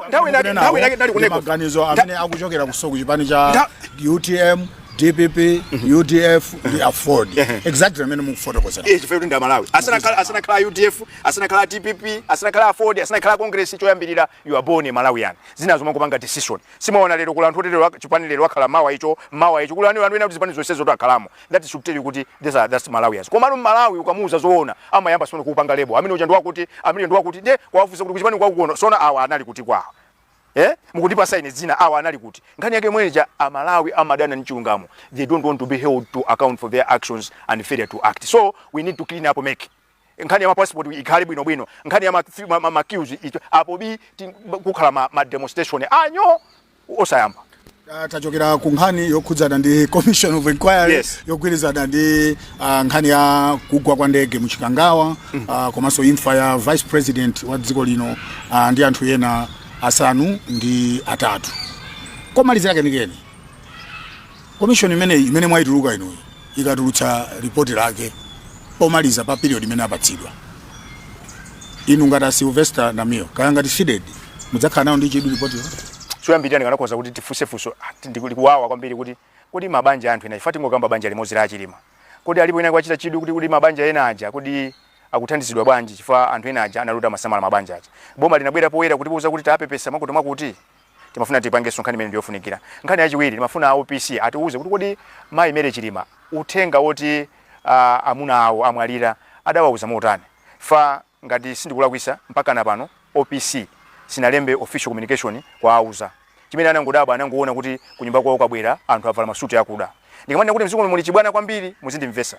nthawi inake nthawi inake ndali kuneko maganizo amene akuchokeranso ku chipani cha utm dpp mhm. udf ndi aford exactly amene mukufotokozera iye chifukwa kuti ndi amalawi asanakhala udf asanakhala dpp asanakhala aford asanakhala congress choyambirira you are born a malawian zinazo mumangopanga decision simaona lero kuli anthu oti lero chipani lero akhala mawa icho mawa icho kuli anthu ena kuti zipani zonsezo to akhalamo that should tell you kuti these are just malawians komano mmalawi ukamuuza zoona amayamba tsono kukupanga label amene uja ndiwakuti amene ndiwakuti nde wawafunsa kuti kuchipani kwakukono tsono awa anali kuti kwawo eh mukundipa sign zina awa anali kuti nkhani yake imene ija amalawi amadana ndi chilungamo they don't want to be held to account for their actions and failure to act so we need to clean up mec nkhani ya ma passport ikhale bwino bwino nkhani ya ma, ma, ma, ma queues icho apo bi ti- kukhala ma, ma demonstration anyo osayamba Ah, tachokera ku nkhani yokhudzana ndi commission of inquiry Yes. yogwirizana ndi ah, nkhani ya kugwa kwa ndege mu chikangawa ah, komanso imfa ya vice president wa dziko lino ah, ndi anthu ena asanu ndi atatu komalizira kenikeni Komishoni imeneyi imene mwaituluka inuyi ikatulutsa report lake pomaliza pa period imene apatsidwa, inu ngati a Sylvester Namiwa kaya ngati Cdedi mudzakhala nalo ndi chidwi report lo? Choyambirira ndikanakhoza kuti tifunse funso ndi likuwawa kwambiri kuti kodi mabanja a anthu ena chifukwa tingokamba banja limodzi la a Chilima, kodi alipo wina wachita chidwi kuti kodi mabanja ena aja kodi akuthandizidwa bwanji chifukwa anthu ena aja anali oti amasamala mabanja aja. Boma linabwera poyera kutiuza kuti tapepesa mwakutimwakuti? timafuna tipangenso nkhani imene ndiyofunikira nkhani yachiwiri timafuna opc atiuze kuti kodi mayi mary chilima uthenga woti uh, amuna awo amwalira adawauza motani fa ngati sindikulakwisa mpaka na pano opc sinalembe official communication kuwauza chimene anangodabwa anangoona kuti kunyumba kwawo kwabwera anthu avala masuti akuda ndikamanena kuti mdziko muli chibwana kwambiri muzindimvesa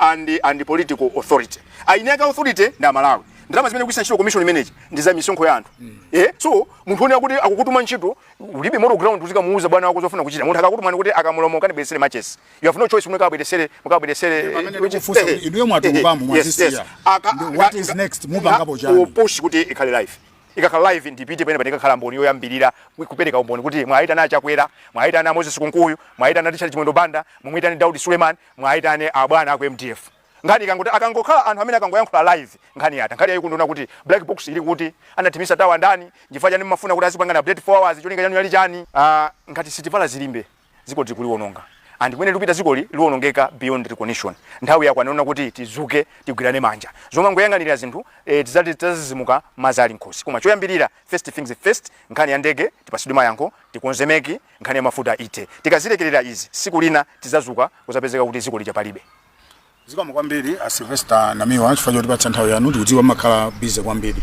legal and political authority eni ake authority ndi aMalawi ndalama zimene ikugwiritsa ntchito commission imeneyi ndi za misonkho ya anthu eh so munthu onena kuti akukutuma ntchito ulibe moral ground uzikamuuza bwana wako zofuna kuchita munthu akakutuma kuti akamulumo ukanibweretsere matches you have no choice kuti mukabweretsere mukabweretsere pamene which- ndikufunsa eh, kuti inuyo mwatulukamo, eh, yes, mwazisiya. yes. Aka- Ndi what is aka- next? Mupangapo aka- chani? push kuti ikhale live ikakhala live ndipite pena ndikakhale mboni yoyambirira kupereka umboni kuti mwaitana a Chakwera mwaitana Moses Kunkuyu mwaitana Richard Chimwendo Banda mumwitane Daudi Suleiman Muwaitane abwana aku MDF nkhani ikangotha akangokhala anthu amene akangoyankhula live nkhani yatha. Nkhani yayikulu ndiyonena kuti black box ili kuti? Anathimisa tower ndani? Nchifukwa chani mmafuna kuti azikupangani update 4 hours cholinga chanu chinali chani? Aaah ngati sitivala zilimbe dzikoli tikuliwononga and kumene likupita dzikoli liwonongeka beyond recognition. Nthawi yakwana yonena kuti tidzuke tigwirane manja. Zomangoyang'anira zinthu ee tidzati tidzadzidzimuka madzi ali mkhosi. Koma choyambirira first things first nkhani ya ndege tipasidwe mayankho, tikonze MEC, nkhani ya mafuta ithe. Tikazilekerera izi siku lina tizazuka kuzapezeka kuti ziko lija palibe. Zikomo kwambiri a Sylvester Namiwa chifukwa chotipatsa nthawi yanu tikudziwa mumakhala busy kwambiri.